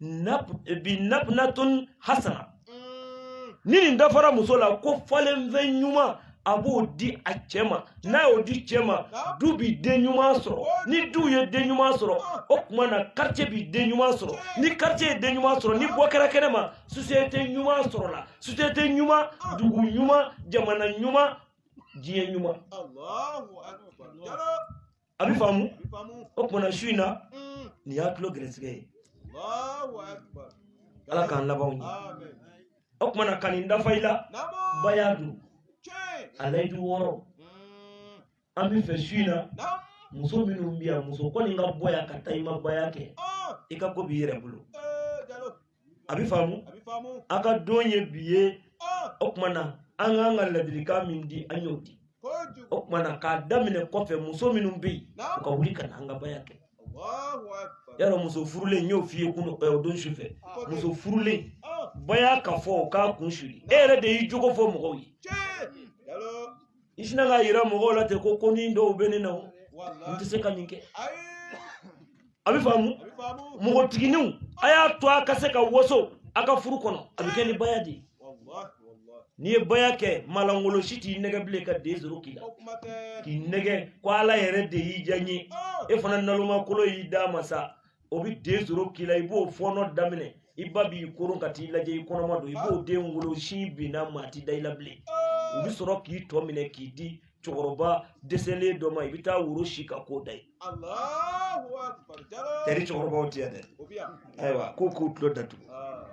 bi nabnatun hasana ni nin dafara muso la ko falenfɛn ɲuman a b'o di a cɛ ma n'a y'o di cɛ ma du bi den ɲuman sɔrɔ ni du ye den ɲuman sɔrɔ o tuma na quartier bi den ɲuman sɔrɔ ni quartier ye den ɲuman sɔrɔ ni bɔ kɛra kɛnɛ ma société ɲuman sɔrɔla société ɲuman dugu ɲuman jamana ɲuman diɲɛ ɲuman a bɛ faamu o tuma na su in na nin y'a tulo gɛrɛsɛgɛ ye ala k'an laban ɲɛ o tuma na ka nin dafa i la baya don a layidu wɔɔrɔ an b'a fɛ su in na muso minnu bɛ yan muso kɔni ka bɔ yan ka taa i ma baya kɛ i ka ko b'i yɛrɛ bolo a bɛ faamu a ka don ye bi ye o tuma na an kan ka ladilikan min di an y'o di o tuma na k'a daminɛ kɔfɛ muso minnu bɛ yen u ka wuli ka na an ka baya kɛ yala muso furulen n y'o f'i ye kun o don su fɛ muso furulen baya ka fɔ k'a kun suli e yɛrɛ de y'i jogo fɔ mɔgɔw ye i sinna k'a yira mɔgɔw la ten ko konin dɔw bɛ ne na o n tɛ se ka nin kɛ a bɛ faamu mɔgɔtigininw a y'a to a ka se ka waso a ka furu kɔnɔ a bɛ kɛ ni baya de ye n'i ye baya kɛ malangolo si t'i nɛgɛn bilen ka den sɔrɔ k'i la k'i nɛgɛn ko ala yɛrɛ de y'i diya n ye e fana nalomakolo y'i d'a ma sa o bɛ den sɔrɔ k'i la i b'o fɔɔnɔ daminɛ i ba b'i koron ka t'i lajɛ i kɔnɔma don i b'o den wolo sin binna maa ti da i la bilen u bɛ sɔrɔ k'i tɔ minɛ k'i di cɛkɔrɔba dɛsɛlen dɔ ma i bɛ taa woro si ka k'o da ye tɛri cɛkɔrɔbaw tɛ yan dɛ ayiwa ko k'u tulo datugu ah.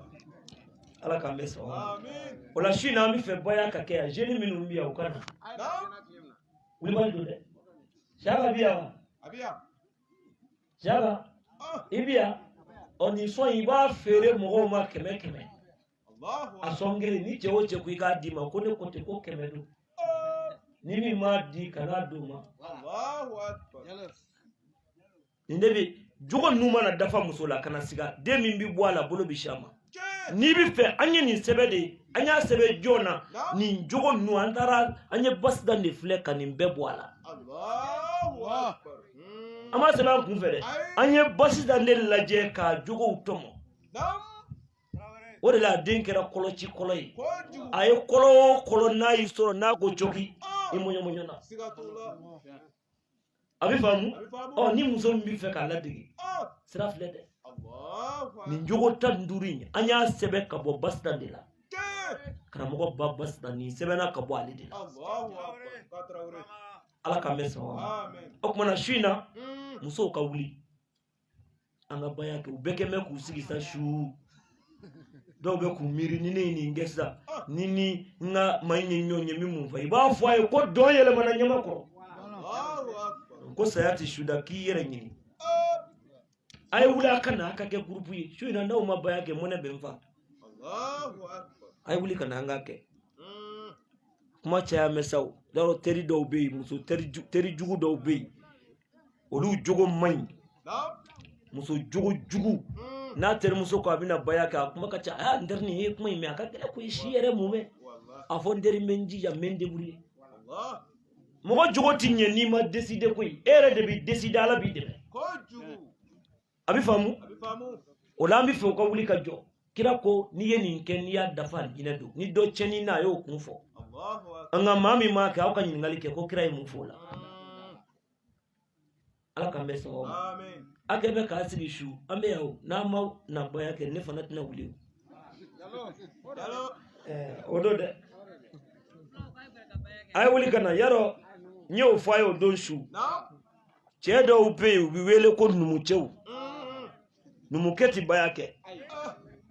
ala k'an bɛɛ sɔn o la su in na an bɛ fɛ baya ka kɛ yan zeni minnu bɛ yan u ka na wulibali don dɛ siyaka bi yan wa. siyaka i bi yan ɔ nin sɔn i b'a feere mɔgɔw ma kɛmɛ kɛmɛ a sɔn kelen ni cɛ o cɛ ko i k'a d'i ma ko ne ko ten ko kɛmɛ don ni min m'a di kana d'o ma nin de bi jogo ninnu mana dafa muso la kana siga den min bi bɔ a la bolo bi sin a ma n'i bɛ fɛ an ye nin sɛbɛn de ye an y'a sɛbɛn jɔn na nin jogo ninnu an taara an ye basitan de filɛ ka nin bɛɛ bɔ a la an m'a sɛbɛn an kun fɛ dɛ an ye basitan de lajɛ ka jogow tɔmɔ o de la a den kɛra kɔlɔci kɔlɔ ye a ye kɔlɔ o kɔlɔ n'a y'i sɔrɔ n'a ko cɔki i mɔɲɔmɔɲɔna a bɛ faamu ɔ ni muso min bɛ fɛ k'a ladege sira filɛ dɛ nin jogo tan ni duuru in an y'a sɛbɛn ka bɔ basitan de la karamɔgɔ ba basitan nin sɛbɛnna ka bɔ ale de la ala k'an bɛɛ sɔn o tuma na su in na musow ka wuli an ka baya kɛ u bɛɛ kɛ bɛ k'u sigi sa su dɔw bɛ k'u miiri ni ne ye nin kɛ sisan ni n ni n ka maa in ye ɲɔgɔn ye n bɛ mun fɔ i b'a fɔ a ye ko dɔn yɛlɛmana ɲamakɔrɔ ko saya tɛ su da k'i yɛrɛ ɲini a ye wuli a ka na a ka kɛ gurupu ye su in na n'aw ma baya kɛ mɔnɛ bɛ n fa a ye wuli ka na an ka kɛ kuma caya mɛ sa o y'a dɔn teri dɔw bɛ yen muso teri ju- teri jugu dɔw bɛ yen olu jogo man ɲi muso jogo jugu n'a terimuso ko a bɛna baya kɛ a kuma ka ca a n teri nin ye kuma in mɛn a ka gɛlɛn ko i si yɛrɛ mun bɛ a fɔ n teri n bɛ n jija n bɛ n débrouiller mɔgɔ jogo ti ɲɛ n'i ma décider koyi e yɛrɛ de b'i décider ala b'i dɛmɛ a bɛ faamu o la an bɛ fɛ u ka wuli ka jɔ kira ko n'i ye nin kɛ n'i y'a dafa alijinɛ don ni dɔ cɛnni na a y'o kun fɔ an ka maa min m'a kɛ aw ka ɲininkali kɛ ko kira ye mun fɔ o la ala k'an bɛɛ sɔn o ma a kɛ bɛ k'a sigi su an bɛ yan o n'an ma na baya kɛ ne fana tɛna wuli o o don dɛ a ye wuli ka na yarɔ n y'o fɔ a ye o don su cɛ dɔw bɛ yen u bɛ wele ko numukɛw numukɛ tɛ baya kɛ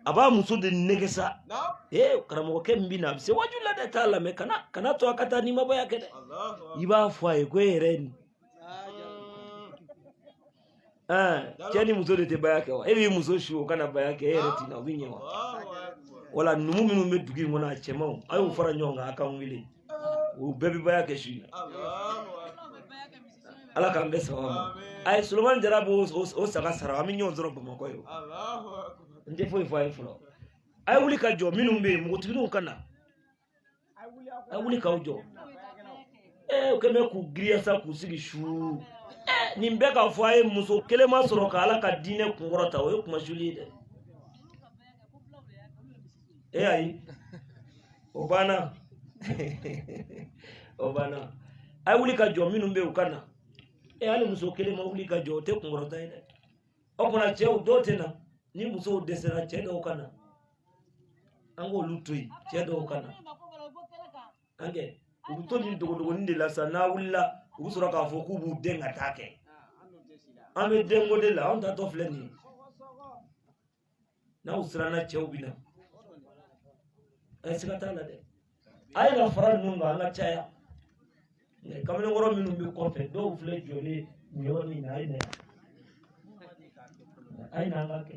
a b'a muso de nɛgɛn sa ee karamɔgɔkɛ min bɛ na a bɛ se waju la dɛ t'a lamɛn kana kana to a ka taa n'i ma baya kɛ dɛ i b'a fɔ a ye ko e yɛrɛ ye nin cɛ ni muso de tɛ baya kɛ wa e b'i muso su o ka na baya kɛ e yɛrɛ tɛ na o bɛ ɲɛ wa wala numu minnu bɛ dugu in kɔnɔ a cɛmanw a y'u fara ɲɔgɔn kan a k'an wele u bɛɛ bɛ baya kɛ su in na ala k'an bɛɛ sɔgɔ ma a ye solomani jara b'o o saga sara an bɛ ɲɔgɔn sɔrɔ bamakɔ ye n tɛ foyi fɔ a ye fɔlɔ a ye wuli ka jɔ minnu bɛ yen npogotigininw ka na a ye wuli k'aw jɔ ee u kɛlen bɛ k'u giriya sa k'u sigi su nin bɛɛ k'a fɔ a ye muso kelen ma sɔrɔ ka ala ka diinɛ kunkɔrɔta o ye kunmasuli ye dɛ e ayi o banna o banna a ye wuli ka jɔ minnu bɛ yen u ka na e hali muso kelen ma wuli ka jɔ o tɛ kunkɔrɔta ye dɛ o tuma na cɛ dɔw tɛ na ni musow dɛsɛra cɛ dɔw ka na an k'olu to yen cɛ dɔw ka na an kɛ u bɛ to nin dogodogonin de la sa n'a wulila u bɛ sɔrɔ k'a fɔ k'u b'u den ka taa kɛ an bɛ denko de la anw taatɔ filɛ nin ye n'u siranna cɛw bɛ na ayi siga t'a la dɛ a ye na fara ninnu kan an ka caya kamalenkɔrɔ minnu bɛ kɔfɛ dɔw filɛ jɔlen nin yɔrɔ in na a ye na a ye na an ka kɛ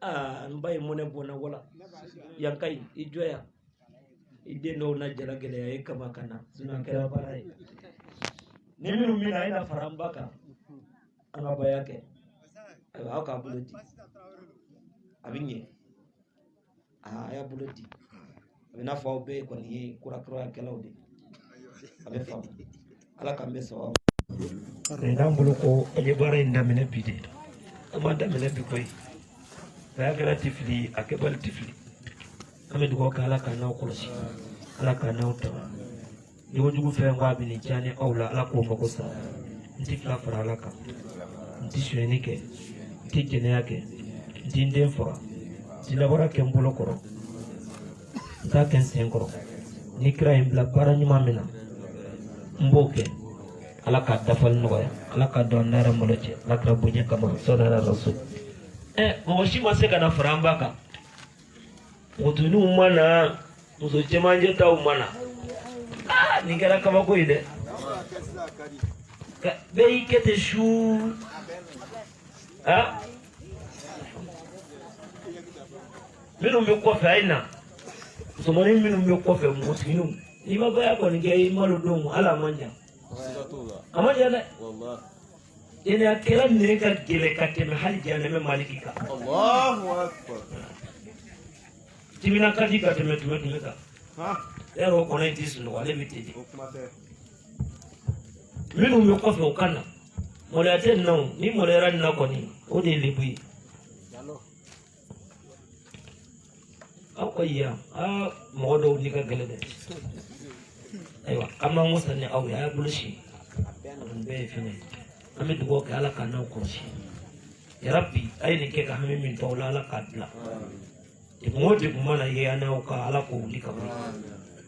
aa n ba ye mɔnɛ bɔ n na wala yan ka ɲi i jɔ yan i den dɔw na jala gɛlɛya ye kama ka na sinɔn a kɛra baara ye ni minnu bɛ na a ye na fara n ba kan an ka baya kɛ ayiwa aw k'a bolo di a bɛ ɲɛ aa a y'a bolo di a bɛ n'a fɔ aw bɛɛ kɔni ye kurakurayakɛlaw de ye a bɛ faamu ala k'an bɛ sɔrɔ n'an bolo ko an ye baara in daminɛ bi de an m'a daminɛ bi koyi a kɛla ti fili a kɛbali ti fili an bɛ dugawu kɛ ala k'an n'aw kɔlɔsi ala k'an n'aw tanga ni wodi ku fɛn wa bini jani aw la ala k'o mago sa n ti fila fara ala kan n ti sonyɛni kɛ n ti jɛnɛya kɛ n ti n den faga n ti namara kɛ n bolo kɔrɔ n t'a kɛ n sen kɔrɔ ni kira ye n bila baara ɲuman min na n b'o kɛ ala ka dafali nɔgɔya ala ka don an n'an yɛrɛ malo cɛ ala kira bonya kama sɔnna rasul ɛ mɔgɔ si ma se ka na fara an ba kan npogotigininw ma na muso cɛmancɛ taw ma na ah, nin kɛra kabako ye dɛ bɛɛ y'i kɛ ten suu ah. minnu bɛ kɔfɛ a ye na musomanin minnu bɛ kɔfɛ npogotigininw n'i ma baya kɔni kɛ i malo don hali a man jan a man jan dɛ jɛnɛyakɛla nɛgɛ ka gɛlɛn ka tɛmɛ hali janɛmɛ maliki kan timina ka di ka tɛmɛ tumɛtumɛ kan yɛrɛ o kɔnɔ in ti sunɔgɔ ale bɛ ten de minnu bɛ kɔfɛ o ka na maloya tɛ nin na o ni maloyara nin na kɔni o de ye lebu ye aw ka yan aa mɔgɔ dɔw ni ka gɛlɛn dɛ ayiwa an b'an wasa ni aw ye a y'a bolo si nin bɛɛ ye fɛn ye an bɛ dugawu kɛ ala k'an n'aw kɔlɔsi yarabi a ye nin kɛ ka hami min to aw la ala k'a bila degun o degun mana ye an n'aw kan ala k'o wuli ka bɔ yen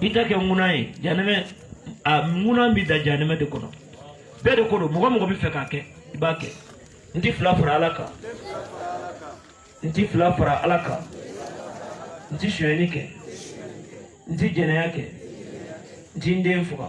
i t'a kɛ ŋuna ye janɛmɛ a ŋuna bɛ da janɛmɛ de kɔnɔ bɛɛ de ko don mɔgɔ mɔgɔ b'a fɛ k'a kɛ i b'a kɛ n ti fila fara ala kan n ti fila fara ala kan n ti sonyɛni kɛ n ti jɛnɛya kɛ n ti n den faga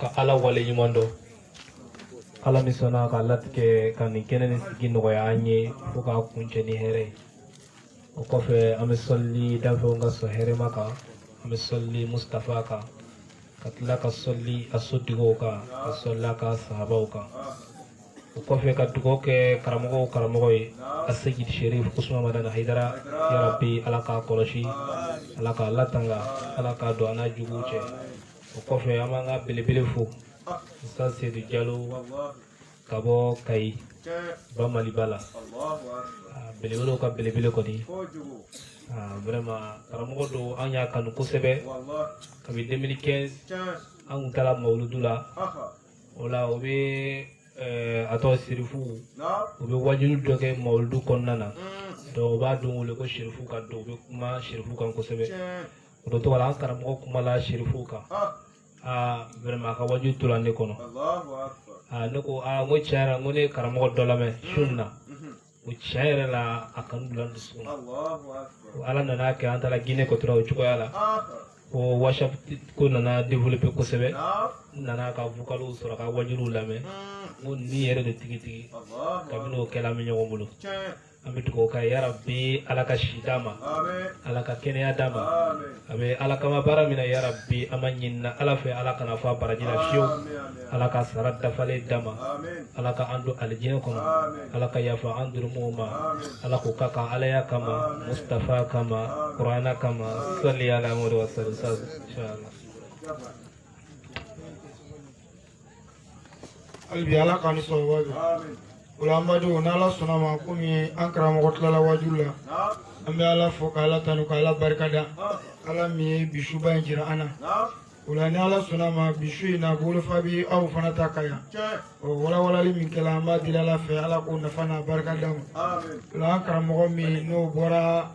ka ala wale ɲuman dɔn ala min sɔnna ka latigɛ ka nin kɛnɛ nin sigi nɔgɔya an ye fo k'a kuncɛ ni hɛrɛ ye o kɔfɛ an bɛ sɔlili danfɛnw ka sɔn hɛrɛma kan an bɛ sɔlili mustafa kan ka tila ka sɔlili a sotigiw kan ka sɔlili a ka sahabaw kan o kɔfɛ ka dugawu kɛ karamɔgɔw karamɔgɔ ye aseyid sherif usman madana haidara yarabi ala k'a kɔlɔsi ala k'a latanga ala k'a don an n'a juguw cɛ o kɔfɛ an b'an ka belebele fo ustaz sedu jalo ka bɔ kayi ba maliba la belebelew ka belebele kɔni vrɛma karamɔgɔ don an y'a kanu kosɛbɛ kabi 2015 an kun taara mawuludu la o la o bɛ eh, a tɔgɔ sirifu u bɛ wajuli dɔ kɛ mawuludu kɔnɔna na mm. donc u b'a don wele ko sirifu ka don u bɛ kuma sirifu kan kosɛbɛ o don tɔgɔ la an karamɔgɔ kumala serifuw kan aa vraiment a ka wajuli tora ne kɔnɔ aa ne ko aa n ko tiɲɛ yɛrɛ n ko ne ye karamɔgɔ dɔ lamɛn su in na o tiɲɛ yɛrɛ la a kanu donna n dusukun na ala nana kɛ an taara gine ko tora o cogoya la ko whatsapp ko nana développer kosɛbɛ n nana a ka vocaliw sɔrɔ ka wajuliw lamɛn n ko nin yɛrɛ de tigitigi kabini o kɛla an bɛ ɲɔgɔn bolo an bɛ dugawu kɛ yarabi ala ka si d'a ma ala ka kɛnɛya d'a ma a bɛ ala kama baara min na yarabi an b'a ɲinin ala fɛ ala kana fɔ a baraji la fiyewu ala ka sara dafalen d'a ma ala ka an don alijinɛ kɔnɔ ala ka yafa an jurumuw ma ala k'u ka kan alaya kama mustafa kama kurana kama sali ala muhamadu wa sali sa hali bi ala k'an ni sawaba bɛn o la an badenw n'ala sɔnna ma komi an karamɔgɔ tilala waaju la an bɛ ala fo k'ala tanu k'ala barika da ala min ye bi suba in jira an na o la ni ala sɔnna ma bi su in na bolofa bɛ aw fana ta ka yan ɔ walawalali min kɛra an b'a deli ala fɛ ala k'o nafa n'a barika d'an ma o la an karamɔgɔ minnu bɔra